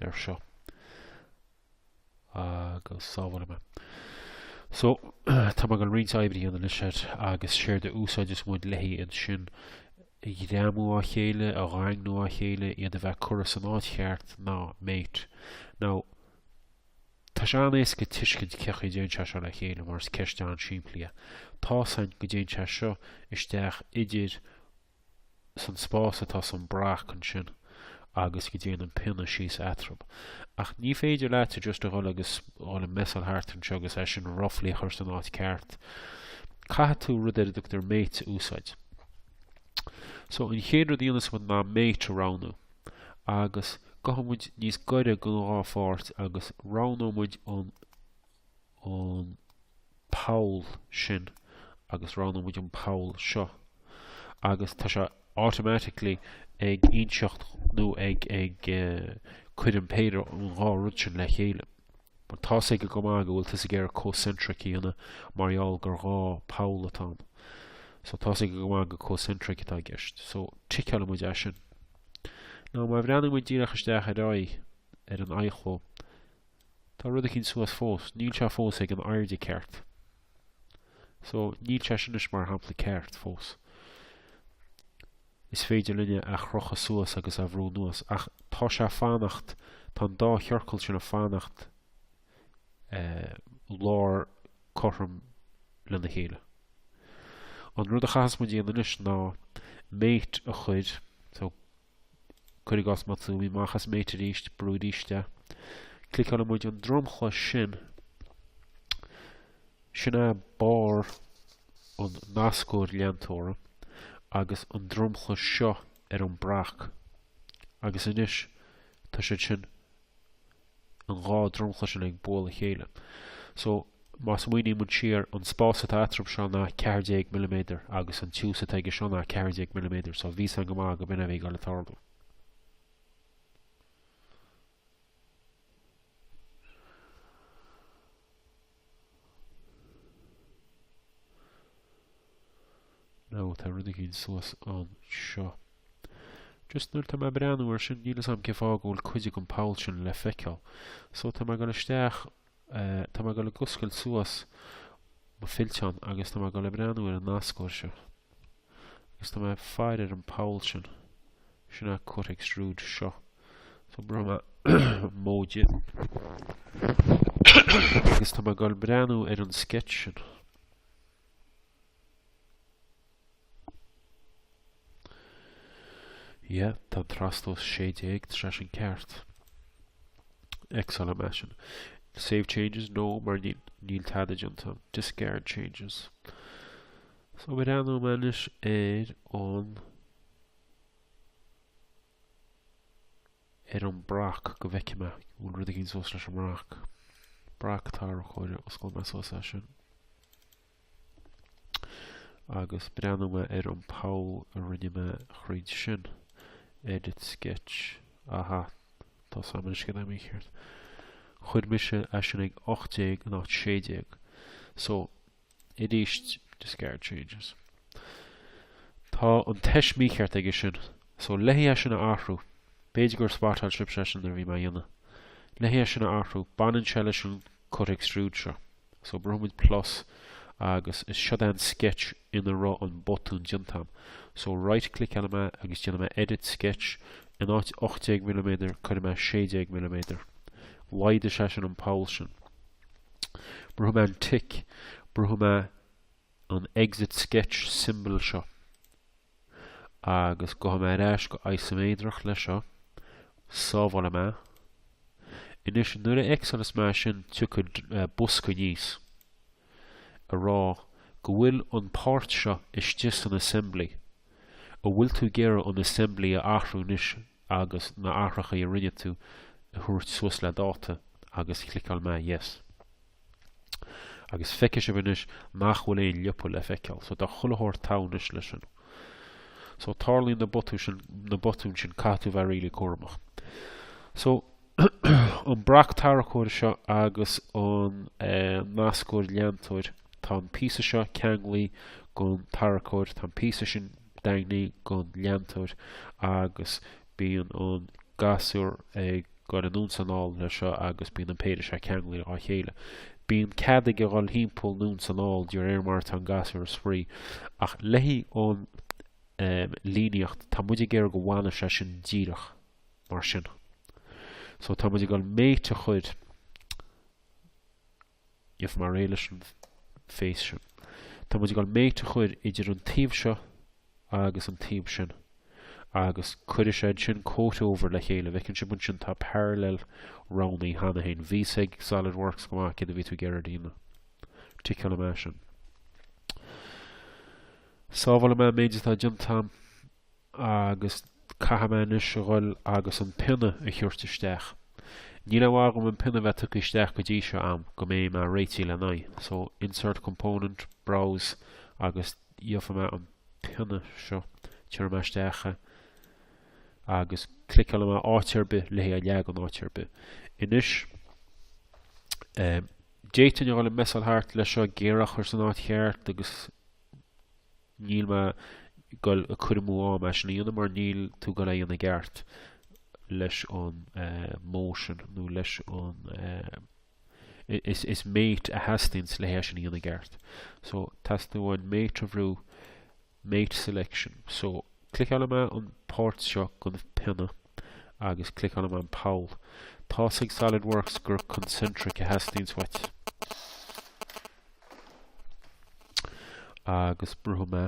air seo agus sábhálfaidh mé. So, tá mé ag dul roinnt oibre a dhéanamh leis air agus séard a úsáideas muid le haghaidh iad sin a ghreamú á chéile, a dhaingniú á chéile, iad a bheith curtha san áit cheart ná mate. Now, tá sé an-éasca tuiscint cén chaoi a dtéann sé seo le chéile mar is ceist an-simplí é. Tá's againn go dtéann sé seo isteach idir san spás atá san brac ansin agus go dtéann an pionna síos eatarthu. Ach ní féidir leatsa just a dhul agus dhul ag messáil thart anseo agus é sin roughly a chur san áit ceart. Caithfidh tú rud ar a dtugtar mate a úsáid. So an chéad rud a dhéanfas muid ná mate a roghnú. Agus gabhfaidh muid níos gaire gon dhá pháirt agus roghnóidh muid an an poll sin agus roghnóidh muid an poll seo agus tá sé automatically ag inseacht nó ag cur an péire an dhá rud sin le chéile. Mar tá a fhios aige go maith go bhfuil tú ag iarraidh concentric a dhéanamh mar gheall gur dhá poll atá ann. So tá a fhios aige go maith gur concentric atá i gceist. So ticeálfaidh muid é sin. Now má bhreathnaíonn muid díreach isteach ar aghaidh ar an aghaidh chomh Tá rud eicínt suas fós. Níl sé fós ag an airde ceart. So, níl sé sin anois mar shampla ceart fós. Is féidir linn é a chrochadh suas agus a bhrú anuas ach tá sé fanacht, tá an dá chiorcal sin ag fanacht eh, lár cothrom lena chéile. An rud a chaithfeas muid dhéanamh anois ná mate a chur, so Cuir i gcás má tá mé imithe amach as Mate arís, brúigh arís é. Cliceálfaidh muid an dromchla sin. Sin é barr an nascóir leantóra agus an dromchla seo ar an brac. Agus anois tá siad sin an dhá dromchla sin ag bualadh a chéile. So, má smaoiníonn muid siar, an spás atá eatarthub seo ná ceathair déag milliméadar agus an tiús atá aige seo ná ceathair déag milliméadar, so bhí 'fhios a'm go maith go b'in a bhí ag goil a tarlú. Now, tá rud eicínt suas anseo. Just nuair tá mé breathnú ar sin, níl 'fhios a'm cé fáth go bhfuil cuid den poll sin le feiceáil. So, tá mé ag dul isteach, tá mé ag dul ag oscailt suas mo fillteán agus tá mé ag dul ag breathnú ar an nascóir seo. agus tá mé ag faire ar an poll sin. Sin an cut extrude seo. So brúfaidh mé móide. agus tá mé ag dul ag breathnú ar an sketch sin. Yeah, tá an trastomhas 16 tá sé sin ceart. X-álfaidh mé é sin. Save changes? No, mar níl tada déanta a'm. Discard changes. So breathnóidh mé anois ar an ar an brac go bhfeicfidh mé an bhfuil rud eicínt suas leis an mbrac. Brac tarracóire, osclóidh mé suas é sin. Agus breathnóidh mé ar an poll a rinne mé thríd sin. Edit sketch. Aha, tá 'fhios a'm anois céard tá mícheart. Chuir mise é sin ag 18 in áit 16. So arís discard changes tá an tois mícheart aige sin so le haghaidh é sin a athrú b'fhéidir gur spotáil sibhse é sin nuair a bhí mé á dhéanamh le haghaidh é sin a athrú baineann sé leis an cut extrude seo so brúfaidh muid plus agus is seod é an sketch ina raibh an botún déanta agam so right cliceálfaidh mé agus déanfaidh mé edit sketch in áit 18 milliméadar cuirfidh mé 16 milliméadar laghdaigh sé sin an poll sin. Brúfaidh mé an tic. Brúfaidh mé an exit sketch symbol seo. Agus gabhfaidh mé ar ais go isoméadrach leis seo. Sábhálfaidh mé. Anois, nuair a X-álas mé sin, tiocfaidh bosca aníos a rá go bhfuil an páirt seo istigh san assembly. An bhfuil tú ag iarraidh an assembly a athrú anois? agus na hathrachaí a rinne tú a thabhairt suas le dáta agus cliceálfaidh mé Yes. Agus feicfidh sibh anois nach bhfuil aon liopa le feiceáil. So tá chuile shórt togha anois leis sin. So tarlaíonn na botúin sin, na botúin sin caithfidh tú bheith really cúramach. So an brac tarracóir seo agus an eh, nascóir leantóir tá an píosa seo ceanglaithe gon tarracóir tá an píosa sin daingnithe don leantóir agus bíonn an gasúr ag goil anonn is anall leis seo agus bíonn an péire seo ceanglaithe dhá chéile. Bíonn cead aige dhul timpeall anonn is anall de réir mar atá an gasúr ag spraoi ach le haghaidh an líníocht tá muid ag iarraidh go bhfanadh sé sin díreach mar sin. So tá muid ag dul mate a chur F. Mar aon leis an face sin, tá muid ag dul mate a chur idir an taobh seo agus an taobh sin, agus cuirfidh sé iad sin comhthreomhar le chéile, bhfeiceann sibh ansin tá parallel roghnaithe cheana féin. Bhí a fhios ag SolidWorks go maith, céard a bhí tú ag iarraidh a dhéanamh. Ticeálfaidh mé é sin. Sábhálfaidh mé an méid atá déanta agam. agus caithfidh mé anois a dhul agus an pionna a thabhairt isteach. Ní raibh agam an pionna bheith tugtha isteach go dtí seo agam go mbeidh mé réitithe lena aghaidh. So, insert component, browse, agus gheobhaidh mé an pionna seo, tabharfaidh mé isteach é, agus cliceálfaidh mé áit ar bith le haghaidh é a leagan áit ar bith. Anois, um, d'fhéadfainn a dhul ag messáil thart leis seo, ag iarraidh é a chur san áit cheart agus Níl mé goil ag cur amú am é sin a dhéanamh mar níl tú goil é dhéanamh i gceart leis an motion nó leis an is, is mate a theastaíonns le hé sin a dhéanamh i gceart. So teastaíonn uainn mate a bhrú mate selection. So cliceálfaidh mé an páirt seo gon pionna agus cliceálfaidh mé an poll. Tá's ag SolidWorks gur concentric a theastaíonns uait. agus brúfaidh mé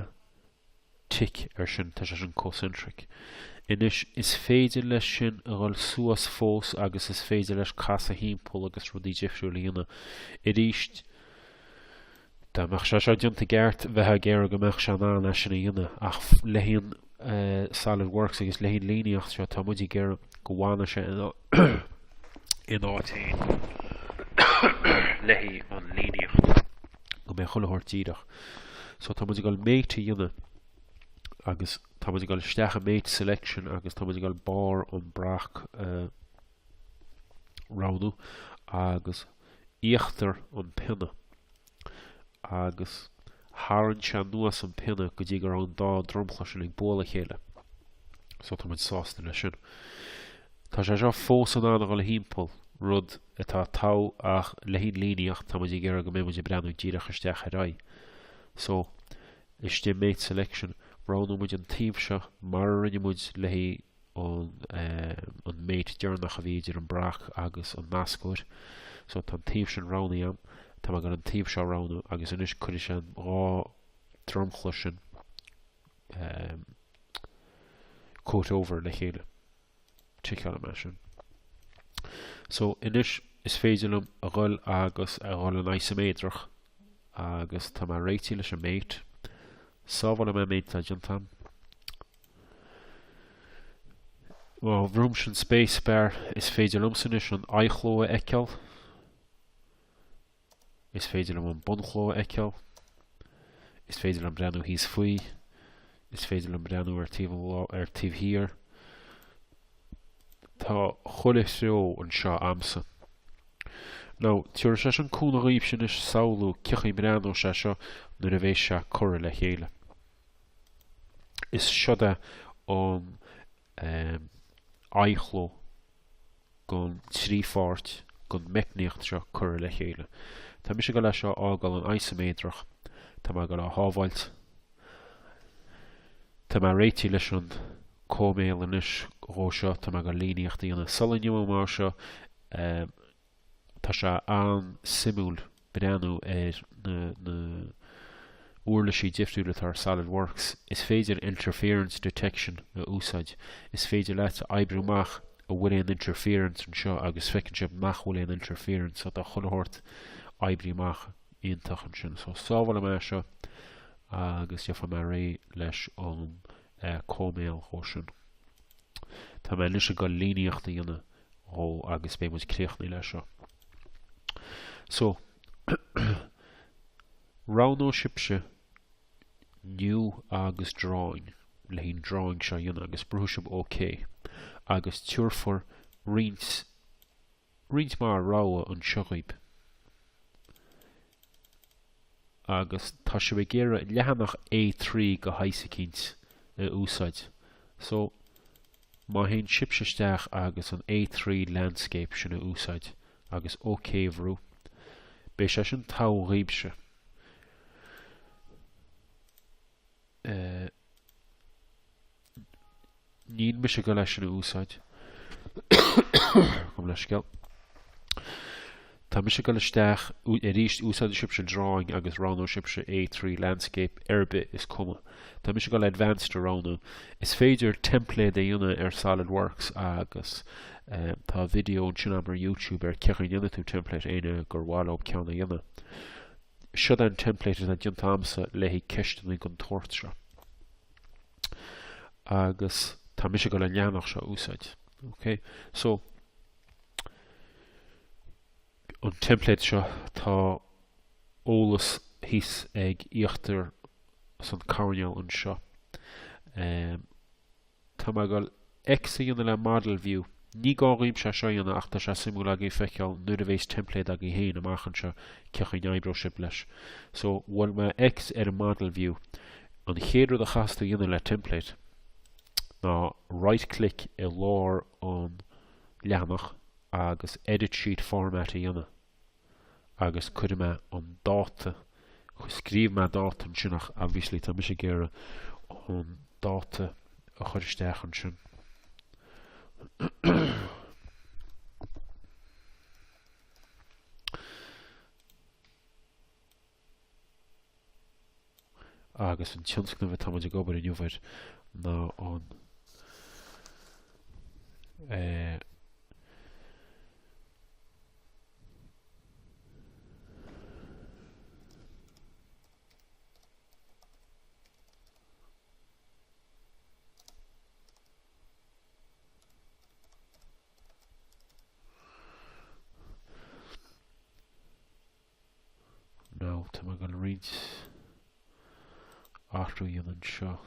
tick ar sin, tá sé sin concentric. Anois, is féidir leis sin a dhul suas fós agus is féidir leis casadh thimpeall agus rudaí difriúla a dhéanamh. Arís, dá mbeadh sé seo déanta gceart, bheifeá ag iarraidh go mbeadh sé in ann é sin a dhéanamh, ach le haghaidh an uh, eh, solid works agus le haghaidh an líníocht seo, tá muid ag iarraidh go bhfana sé in áit amháin le haghaidh an líníocht go mbeidh chuile shórt díreach. So tá muid ag dul mate a dhéanamh agus tá muid ag dul isteach i mate selection agus tá muid ag dul barr an bhrac a roghnú agus íochtar an pionna. agus tharraing sé sin anuas an pionna go dtí go raibh an dá dromchla sin ag bualadh a chéile. So tá muid sásta leis sin. Tá sé seo fós in ann a dhul thimpeall, rud atá togha ach le haghaidh an líníocht tá muid ag iarraidh go mbeidh muid ag breathnú díreach isteach ar a aghaidh. So, istigh i Mate Selection, roghnóidh muid an taobh seo mar a rinne muid le haghaidh an mate deireanach a bhí idir an brac agus an nascóir. So tá an taobh sin roghnaithe a'm. Tá mé ag goil an taobh seo roghnú agus anois cuirfidh sé an dhá dromchla sin comhthreomhar le chéile. Ticeálfaidh mé sin. So anois is féidir liom a ghoil agus a ghoil go isiméadrach agus tá mé réitithe leis an mate. Sábhálfaidh mé an méid atá déanta a'm. Well, má bhrúim an space bar is féidir liomsa anois an aghaidhchló a fheiceáil. Is féidir liom an bunchló a fheiceáil. Is féidir liom breathnú thíos faoi. Is féidir liom breathnú ar, ar an taobh thiar. Tá chuile threo anseo a'msa. Now, tiúrfaidh sé sin cúnamh dhaoibhse anois samhlú cén chaoi a mbreathnóidh sé seo nuair a bhéas sé curtha le chéile. Is siod é an aghaidhchló den trí pháirt den mheicníocht seo curtha le chéile. Tá mise ag goil é seo a fhágáil in isiméadrach, tá mé ag goil é a shábháilt, tá mé réitithe leis an cóiméal anois dhó seo, tá mé ag goil líníocht a dhéanamh sula n-imeoidh mé as seo, Tá sé an-suimiúil breathnú ar na na uirlisí difriúla atá ar Solid Works. Is féidir interference detection a úsáid. Is féidir leat a oibriú amach an bhfuil aon interference anseo agus feiceann sibh nach bhfuil aon interference so tá chuile shórt oibrithe amach iontach ansin. So sábhálfaidh mé seo agus gheobhaidh mé réidh leis an cóiméal dhó sin. Tá mé anois ag dul líníocht a dhéanamh. dhó agus beidh muid críochnaithe le seo. So, roghnóidh sibhse New agus Drawing le haghaidh an drawing seo a dhéanamh agus brúfaidh sibh OK agus tiúrfar roinnt mhaith rogha anseo dhaoib. Agus tá sibh ag iarraidh leathanach A3 go háirid cineál a úsáid. So, Má théann sibhse isteach agus an A3 landscape sin a úsáid agus OK a bhrú, beidh sé sin togha dhaoibhse. Níl mise ag dul é sin a úsáid. Chum leis scéal. Tá mise ag dul isteach arís, úsáidfidh sibhse Drawing agus roghnóidh sibhse A3 Landscape, ar bith, is cuma. Tá mise ag dul Advanced a roghnú. Is féidir teimpléad a dhéanamh ar Solid Works agus tá video ansin agam ar YouTube ar cé chaoi a ndéanfaidh tú teimpléad, éinne gur mhaith leo ceann a dhéanamh. Siod an teimpléad atá déanta agamsa le haghaidh ceisteanna den tsórt seo. Agus tá mise ag dul an leathanach seo a úsáid. Okay? So, an teimpléad seo tá eolas thíos ag íochtar san coirnéal anseo. Tá mé ag X a dhéanamh le Model View. Ní gá dhaoibse seo a dhéanamh ach tá sé suimiúil agaí feiceáil nuair a bhéas teimpléad agaí féin amach anseo cé chaoi a n-oibreoidh sibh leis. So bhuail mé X ar an Model View. An chéad rud a chaithfeas tú dhéanamh le teimpléad ná right click i lár an leathanach agus Edit Sheet Format a dhéanamh agus cuirfidh mé an dáta, scríobh mé dáta ansin ach obviously tá mise ag iarraidh an dáta a chur isteach ansin. agus an tionscnamh atá muid ag obair inniu air ná an eh, Nó tá mé ag dul roinnt athrú a dhéanamh anseo.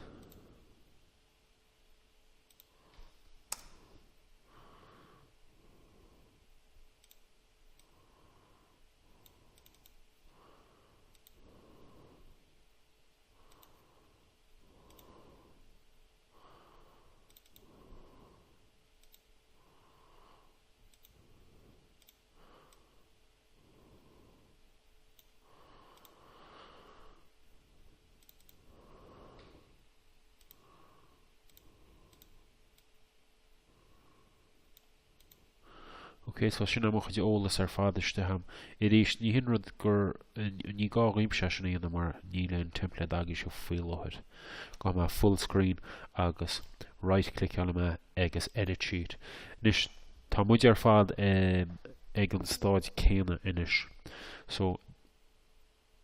Ok so sin é mo chuid eolas ar fad istigh a'm. Arís, ní hin rud gur ní gá dhaoibhse é sin a dhéanamh mar níl an template agaibhse faoi láthair. Gabhfaidh mé full screen agus right click-álfaidh mé agus edit sheet. Anois Tá muid ar fad ag an stáid céanna anois so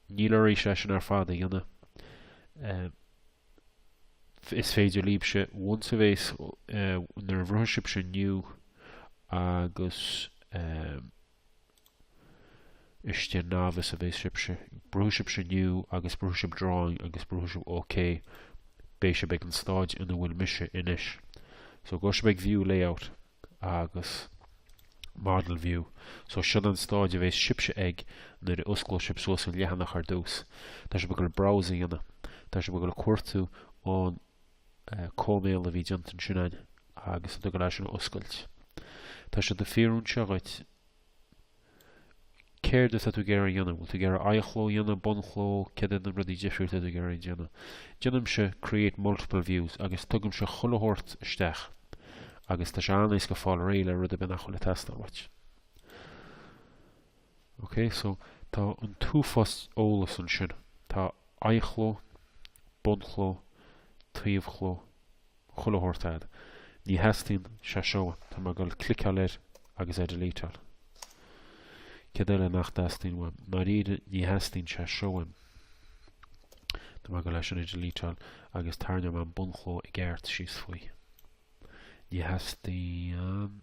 níl oraibhse é sin ar fad a dhéanamh. Is féidir líbse once a bheas nuair a bhrúfaidh sibse new agus Istigh Nav is a bheidh sibhse. Brúfaidh sibhse New agus brúfaidh sibh Drawing agus brúfaidh sibh OK. Beidh sibh ag an stáid ina bhfuil mise anois. So gabhfaidh sibh ag View Layout agus Model View. So sin an stáid a bheidh sibhse ag nuair a osclóidh sibh suas an leathanach ar dtús. Tá sibh ag dul Browse a dhéanamh. Tá sibh ag dul cuartú an cóimeál a bhí déanta ansin a'inn agus tá tú ag dul é sin a oscailt. Tá sé ag fiafraí anseo dhuit Céard atá tú ag iarraidh a dhéanamh? Bhfuil tú ag iarraidh aghaidhchló a dhéanamh, bunchló? Céard iad na rudaí difriúla atá tú ag iarraidh a dhéanamh? Déanaimse create multiple views agus tugaimse chuile shórt isteach agus tá sé an-éasca fáil réidh le rud ar bith nach bhfuil ag teastáil uait. Ok, so tá an t-uafás eolas ansin. Tá aghaidhchló, bunchló, taobhchló, chuile shórt a'd. Ní theastaíonn sé seo uaim, tá mé ag dul cliceáil air agus é delete-áil. Céard eile nach dteastaíonn uaim? Ndáiríre, ní theastaíonn sé seo uaim. Tá mé ag dul é sin a delete-áil agus tarraingeoidh mé an bunchló i gceart síos faoi. Ní theastaíonn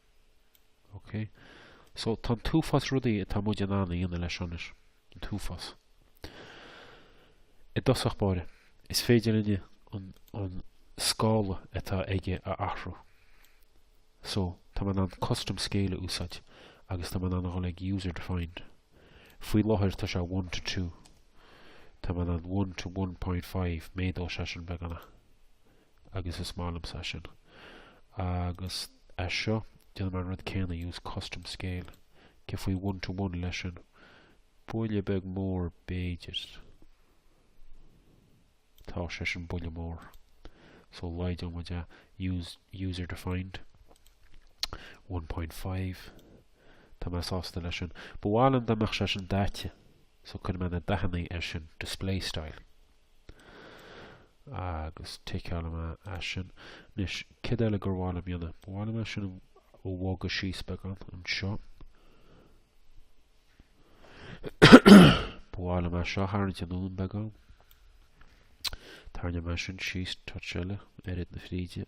Ok. So, tá an t-uafás rudaí atá muid in ann a dhéanamh leis anois. An t-uafás. I dtosach báire, is féidir linne an, an scála atá aige a athrú. So, tá mé in ann custom scale a úsáid agus tá mé in ann a dhul ag user defined. Faoi láthair tá sé one to two. Tá mé in ann one to one point five, méadóidh sé sin beagnach. agus is maith liomsa é sin. Agus é seo, déanfaidh mé an rud céanna, use custom scale, cé faoi one to one leis sin? Buille beag mór, b'fhéidir. Tá sé sin buille mór. So laghdóidh muid é. Use user defined. 1.5. Tá mé sásta leis sin. Ba mhaith liom dá mbeadh sé sin daite. So cuirfidh mé na dathanna ar sin, display style. Agus ticeálfaidh mé é sin. Anois, céard eile gur mhaith liom a dhéanamh? Ba mhaith liom é sin a bhogadh síos beagán anseo. Ba mhaith liom é seo a tharraingt anonn beagán. Tarraingeoidh mé é sin síos touch eile, oiread na fríde.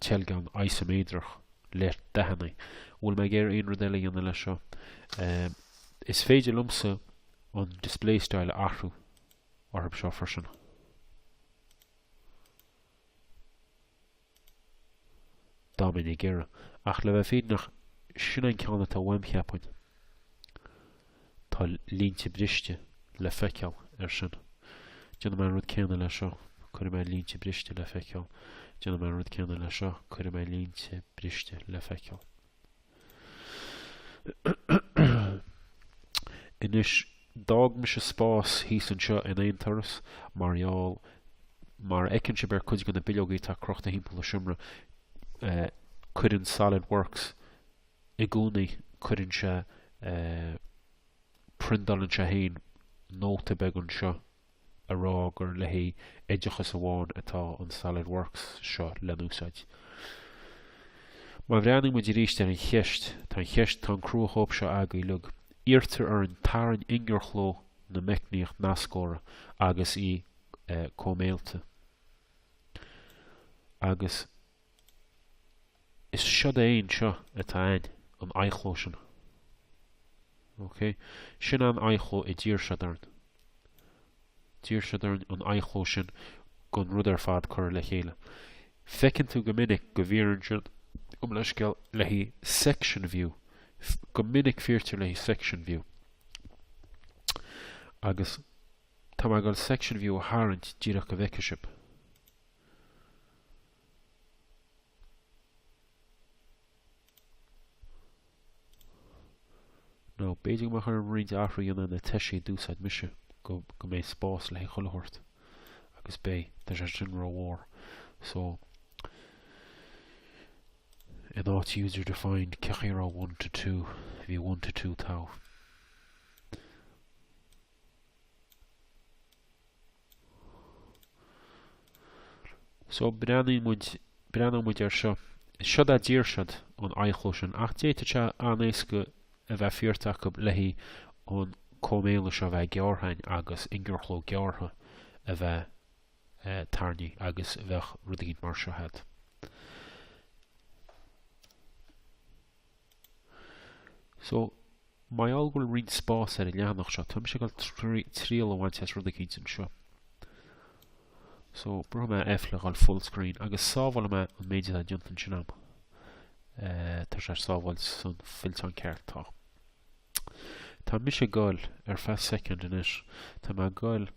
teilgean isiméadrach le dathanna. Bhfuil mé ag iarraidh aon rud eile a dhéanamh leis seo? Is féidir liomsa an display style a athrú orthu seo freisin. Dá mbeinn ag iarraidh. Ach le bheith fírinneach, sin an ceann atá uaim, cheapfainn. Tá línte briste le feiceáil air sin. Déanfaidh mé an rud céanna leis seo, cuirfidh mé línte briste le feiceáil. Déanfaidh mé an rud céanna leis seo, cuirfidh mé línte briste le feiceáil. Anois, d'fhág mise spás thíos anseo in aon turas, mar gheall, mar a fheiceann sibh ar cuid de na bileogaí atá crochta thimpeall an seomra, cuireann SolidWorks i gcónaí, cuireann sé, priondálann sé féin nóta beag anseo a rá gur le haghaidh oideachais amháin atá an Solid Works seo le n-úsáid. Má bhreathnaíonn muid arís ar an cheist, tá an cheist, tá an cruachóip seo agaibh uilig, iarrtar orainn tarraing ingearchló na meicníocht nascóra agus í cóiméailte, agus. Is seod é anseo atá ann, an aghaidhchló sin. OK? Sin an aghaidhchló a d'iarr siad orainn. D'iarr siad orainn an aghaidhchló sin den rud ar fad curtha le chéile. Feiceann tú go minic go bhfiafraíonn siad, gabh mo leithscéal, le haghaidh section view, go minic fiafraítear le haghaidh section view. Agus tá mé ag dul section view a tharraingt díreach go bhfeicfidh sibh. Nó, b'fhéidir go mbeadh orm roinnt athruithe a dhéanamh ar na toisí a d'úsáid mise, go, go mbeidh spás le haghaidh chuile shórt. Agus beidh, tá sé sin ró-mhór. So, in áit user defined, cén chaoi a raibh 1 to 2, bhí 1 to 2 togha. So, breathnaíonn muid, breathnóidh muid air seo. Siod a' dtír siod an aghaidhchló sin, ach d'fhéadfadh sé an-éasca a bheith fiafraithe acu le haghaidh an cóimeála seo a bheith gearrtha againn agus ingearchló gearrtha a bheith tarraingthe agus bheadh rud eicínt mar seo agat. So, mar gheall go bhfuil roinnt spás ar an leathanach seo, tá mise ag goil triail a bhaint as rud eicínt anseo. So, brúfaidh mé F le dhul full screen agus sábhálfaidh mé an méid atá déanta ansin agam. Eh, tá sé ag sábháil san fillteán ceart, tá. Tá mise ag goil ar feadh soicind anois, tá mé ag goil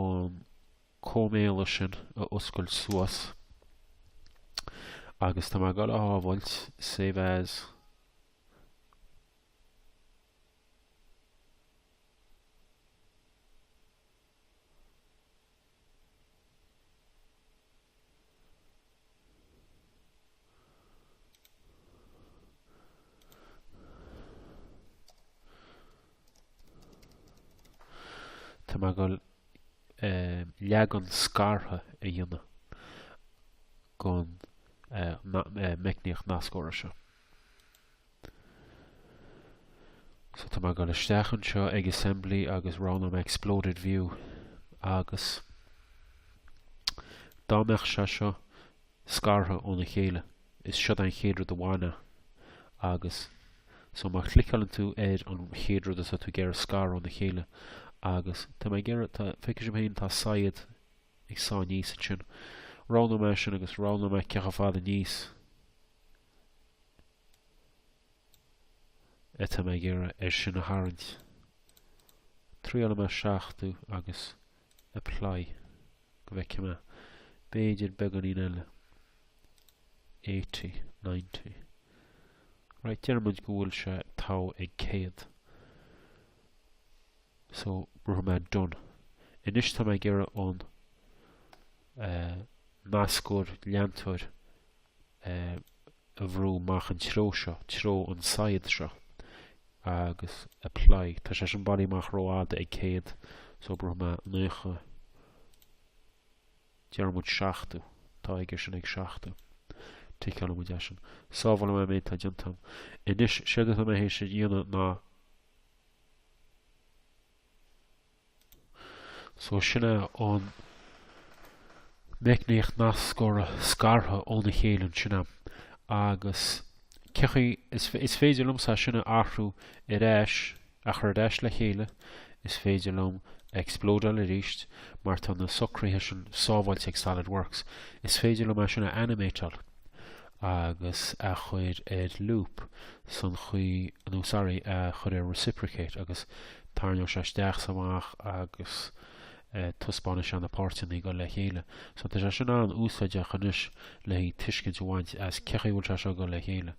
an cóimeála sin a oscailt suas agus tá mé ag dul á shábháilt, save as. Tá mé ag goil eh, leagan scartha a dhéanamh den eh, eh, meicníocht nascóra seo. So tá mé ag dul isteach anseo ag Assembly agus roghnóidh mé Exploded View agus dá mbeadh sé seo scartha óna chéile, is seod é an chéad rud a bhainfeá agus so má chliceáilann tú ar an chéad rud atá tú ag iarraidh scaradh óna chéile agus tá mé ag iarraidh, tá, feicfidh sibh féin, tá saighead ag sá aníos ansin. Roghnóidh mé é sin agus roghnóidh mé cé chomh fada aníos. atá mé ag iarraidh air sin a tharraingt. Triailfidh mé 70 agus apply go bhfeicfidh mé b'fhéidir beagáinín eile. 80, 90. Right, deir muid go bhfuil sé togha ag 100. So, brúfaidh mé done. Anois tá mé ag iarraidh an uh, nascóir leantóir a bhrú amach an treo seo, treo an tsaighead seo, agus apply. Tá sé sin bailithe amach rófhada ag 100, so brúfaidh mé 90. Déarfaidh muid 70. Tá go leor sin ag 70. Ticeálfaidh muid é sin. Sábhálfaidh mé an méid tá déanta. Anois, séard atá mé héis a dhéanamh ná So sin í an meicníocht nascóra scartha óna chéile ansin agam. Agus feicfidh, is, is féidir liomsa é sin a athrú ar ais, a chur ar ais le chéile, is féidir liom a explodeáil arís mar tá na socruithe sin sábháilte ag SolidWorks. Is féidir liom é sin a animateáil. agus a chur ar loop san chaoi, nó sorry, a chur ar reciprocate agus tairneoidh sé isteach 's amach agus taispeánfaidh sé na páirteanna ag gabháil le chéile. So tá sé sin an-úsáideach anois le haghaidh tuiscint a bhaint as cé chaoi a bhfuil sé seo ag gabháil le chéile.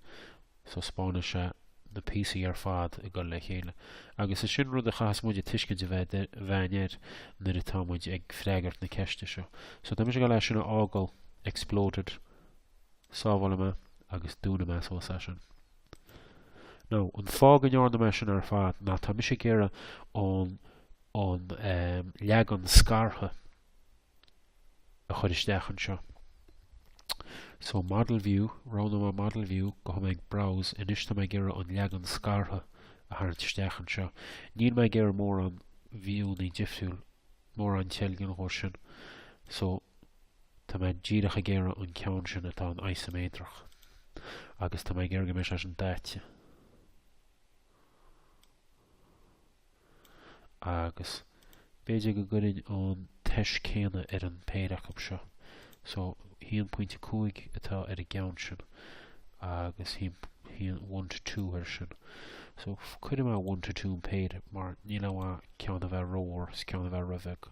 So spáineann sé na píosaí ar fad ag dul le chéile. Agus is sin rud a chaitheas muide tuiscint a bheith againn air nuair atá muid ag freagairt na ceiste seo. So, tá mise ag dul é sin a fhágáil exploded. Sábhálfaidh mé agus dúnfaidh mé síos é sin. Now, an fáth go ndearna mé sin ar fad ná tá mise ag iarraidh an an, eh, leagan scartha, a chur isteach anseo. So model view, roghnóidh mé model view gabhfaidh mé ag browse, anois tá mé ag iarraidh an leagan scartha a tharraingt isteach anseo. Níl mé ag iarraidh mórán view-annaí difriúil, mórán teilgin dhó sin, so tá mé díreach ag iarraidh an ceann sin atá an isoméadrach. Agus tá mé ag iarraidh go mbeidh sé sin daite. Agus b'fhéidir go gcuirfinn an toise céanna ar an péire acu seo. So, aon pointe cúig atá ar an gceann sin, agus aon one to two ar sin. So, cuirfidh mé one to two an péire, mar níl aon mhaith ceann a bheith rómhór, is ceann a bheith róbheag.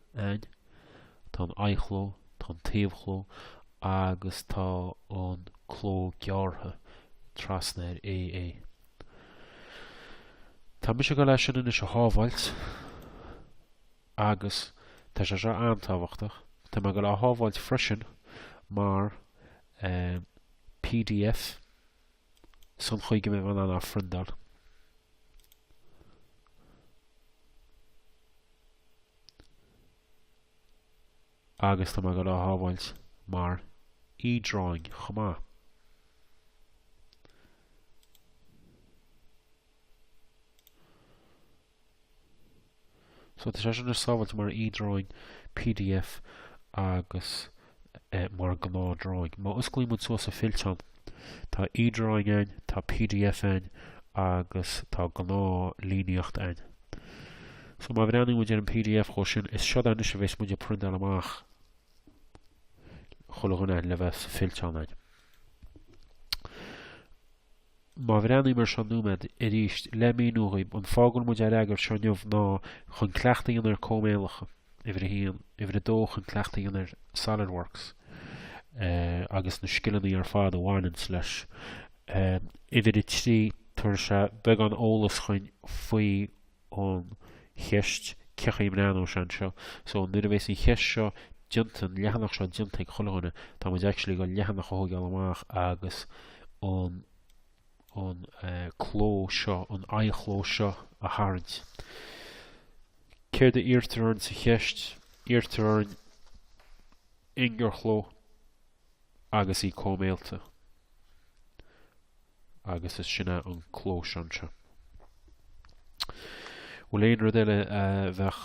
ainn. Tá an aghaidhchló, tá an taobhchló agus tá an cló gearrtha trasna ar A A. Tá mise ag gabháil é sin anois a shábháilt agus tá sé seo an-tábhachtach, tá mé ag gabháil é a shábháilt freisin mar pdf. sa chaoi go mbeidh mé in ann é a phriondáil. agus tá mé ag gabháil é a shábháilt mar e-drawing chomh maith. So tá sé sin sábháilte mar e-drawing, pdf agus mar ghnáth-drawing. Má osclaíonn muid suas an fillteán, tá e-drawing ann, tá pdf ann agus tá gnáth-líníocht ann. So má bhreathnaíonn muid ar an pdf chomh sin, is seo é anois a bheas muid ag priontáilt amach chuile dhuine le bheith sa fillteán againn. Má bhreathnaím air seo nóiméad arís le míniú dhaoib, an fáth go bhfuil muid á fhreagairt seo inniu ná chun cleachtadh a dhéanamh ar cóimeálacha, uimhir a haon, uimhir a dó chun cleachtadh a dhéanamh ar SolidWorks agus na scileanna ar fad a bhaineanns leis, uimhir a trí, tabharfaidh sé beagán eolas chugainn faoi an cheist cé chaoi a mbreathnaíonn sé anseo. So, nuair a bheas an cheist seo déanta, an leathanach seo déanta ag chuile dhuine, tá muid actually ag gabháil an leathanach a thóigeáil amach agus an an eh, cló seo, an aghaidhchló seo a tharraingt. Céard a iarrtar orainn sa cheist? Iarrtar orainn ingearchló agus í cóimeáilte. agus is sin é an cló seo anseo. Bhuel, aon rud eile a bheadh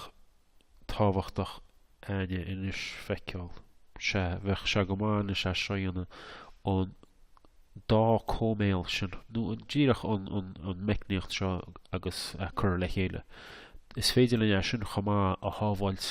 tábhachtach againn anois a fheiceáil, sea, bheadh sé go maith anois é seo a dhéanamh, an dá chóimeáil sin, nó díreach an, an, an meicníocht seo agus a chur le chéile. Is féidir linn é sin chomh maith a shábháilt.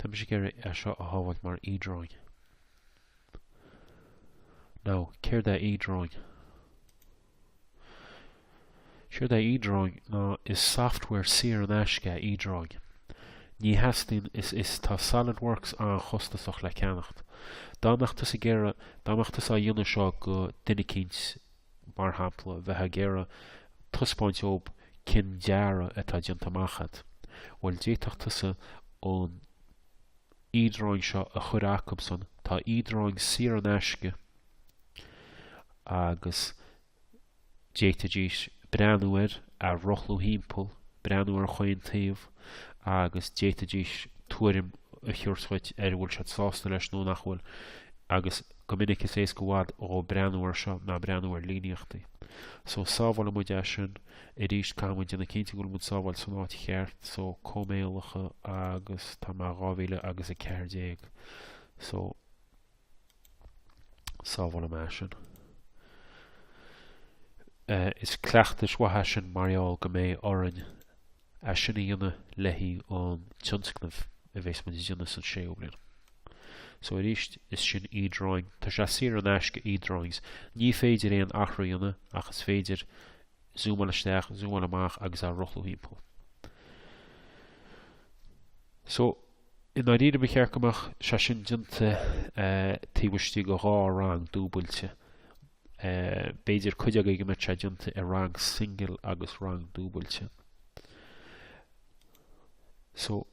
Tá mise ag iarraidh é seo a shábháilt mar e-drawing. Now, céard é e-drawing? Séard é e-drawing ná is software saor in aisce é e-drawing. Ní theastaíonn is is tá SolidWorks an-chostasach le ceannacht. Dá mbeadh tusa ag iarraidh, dá mbeadh tusa á dhéanamh seo go duine eicínt, mar shampla, bheifeá ag iarraidh taispeáint dóib cén dearadh atá déanta amach agat. Bhuel, d'fhéadfadh tusa an e-drawing seo a chur acub-san, tá e-drawing saor in aisce agus d'fhéadfaidís breathnú air, é a rothlú thimpeall, breathnú ar chaon taobh agus d'fhéadfaidís tuairim a thabhairt dhuit an bhfuil siad sásta leis nó nach bhfuil agus Go minic is éasca i bhfad dhóib breathnú air seo ná breathnú ar líníochtaí. So, sábhálann muid é sin. Arís, caithfidh muid déanamh cinnte go bhfuil muid á shábháilt san áit cheart, so, cóimeálacha agus tá mé dhá mhíle agus a ceathair déag. So, sábhálann mé é sin. Uh, is cleachtas maith é sin mar gheall go mbeidh orainn é sin a dhéanamh le haghaidh an tionscnaimh a bhéas muid a dhéanamh san séú bliain. So arís, is sin e-drawing, tá sé saor in aisce e-drawings, ní féidir aon athrú a dhéanamh ach is féidir zúmáil isteach, zúmáil amach agus a rothlú thimpeall. So i ndáiríre ba cheart go mbeadh sé sin déanta taobh istigh de dhá rang dúbailte b'fhéidir cuid agaibh go mbeidh sé déanta i rang singil agus rang dúbailte. So,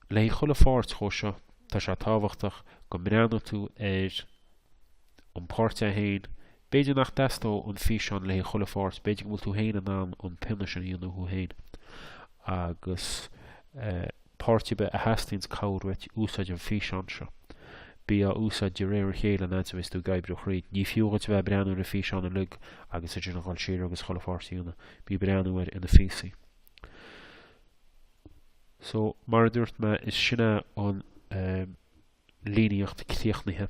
le haghaidh chuile pháirt dhó seo, tá sé tábhachtach go mbreathnóidh tú ar an pháirt é féin, b'fhéidir nach dteastóidh an físeán le haghaidh chuile pháirt, b'fhéidir go bhfuil tú féin in ann an pionna sin a dhéanamh thú féin agus Páirt ar bith a theastaíonns cabhair uait, úsáid an físeán seo. Bí á úsáid de réir a chéile an fhad a bhíos tú ag oibriú thríd. Ní fiú dhuit a bheith ag breathnú ar an físeán uilig agus idir na dhul siar agus chuile pháirt a dhéanamh. Bí ag breathnú air ina phíosaí. So, mar a dúirt mé, is sin é an. líníocht críochnaithe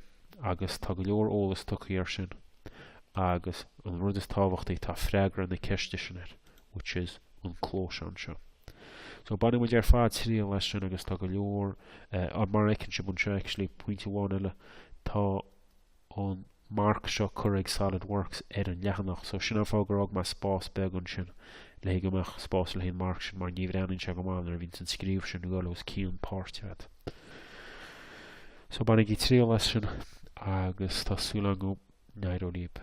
agus tá go leor eolas tugtha air sin agus an rud is tábhachtaí tá freagra na ceiste sin air which is an clós anseo. So baineann muid ar fad triail as sin agus tá go leor, mar a fheiceann sibh anseo actually pointe amháin eile, tá an marc seo cuirfidh Solid Works ar an leathanach so sin an fáth gur fhág mé spás beag ansin le haghaidh go mbeadh spás le haghaidh an marc sin mar ní bhreathnaíonn sé go maith nuair a bhíonns an scríobh sin ag dul os cionn páirt agat. So bainigí triail as sin agus tá súil agam go n-éireoidh libh.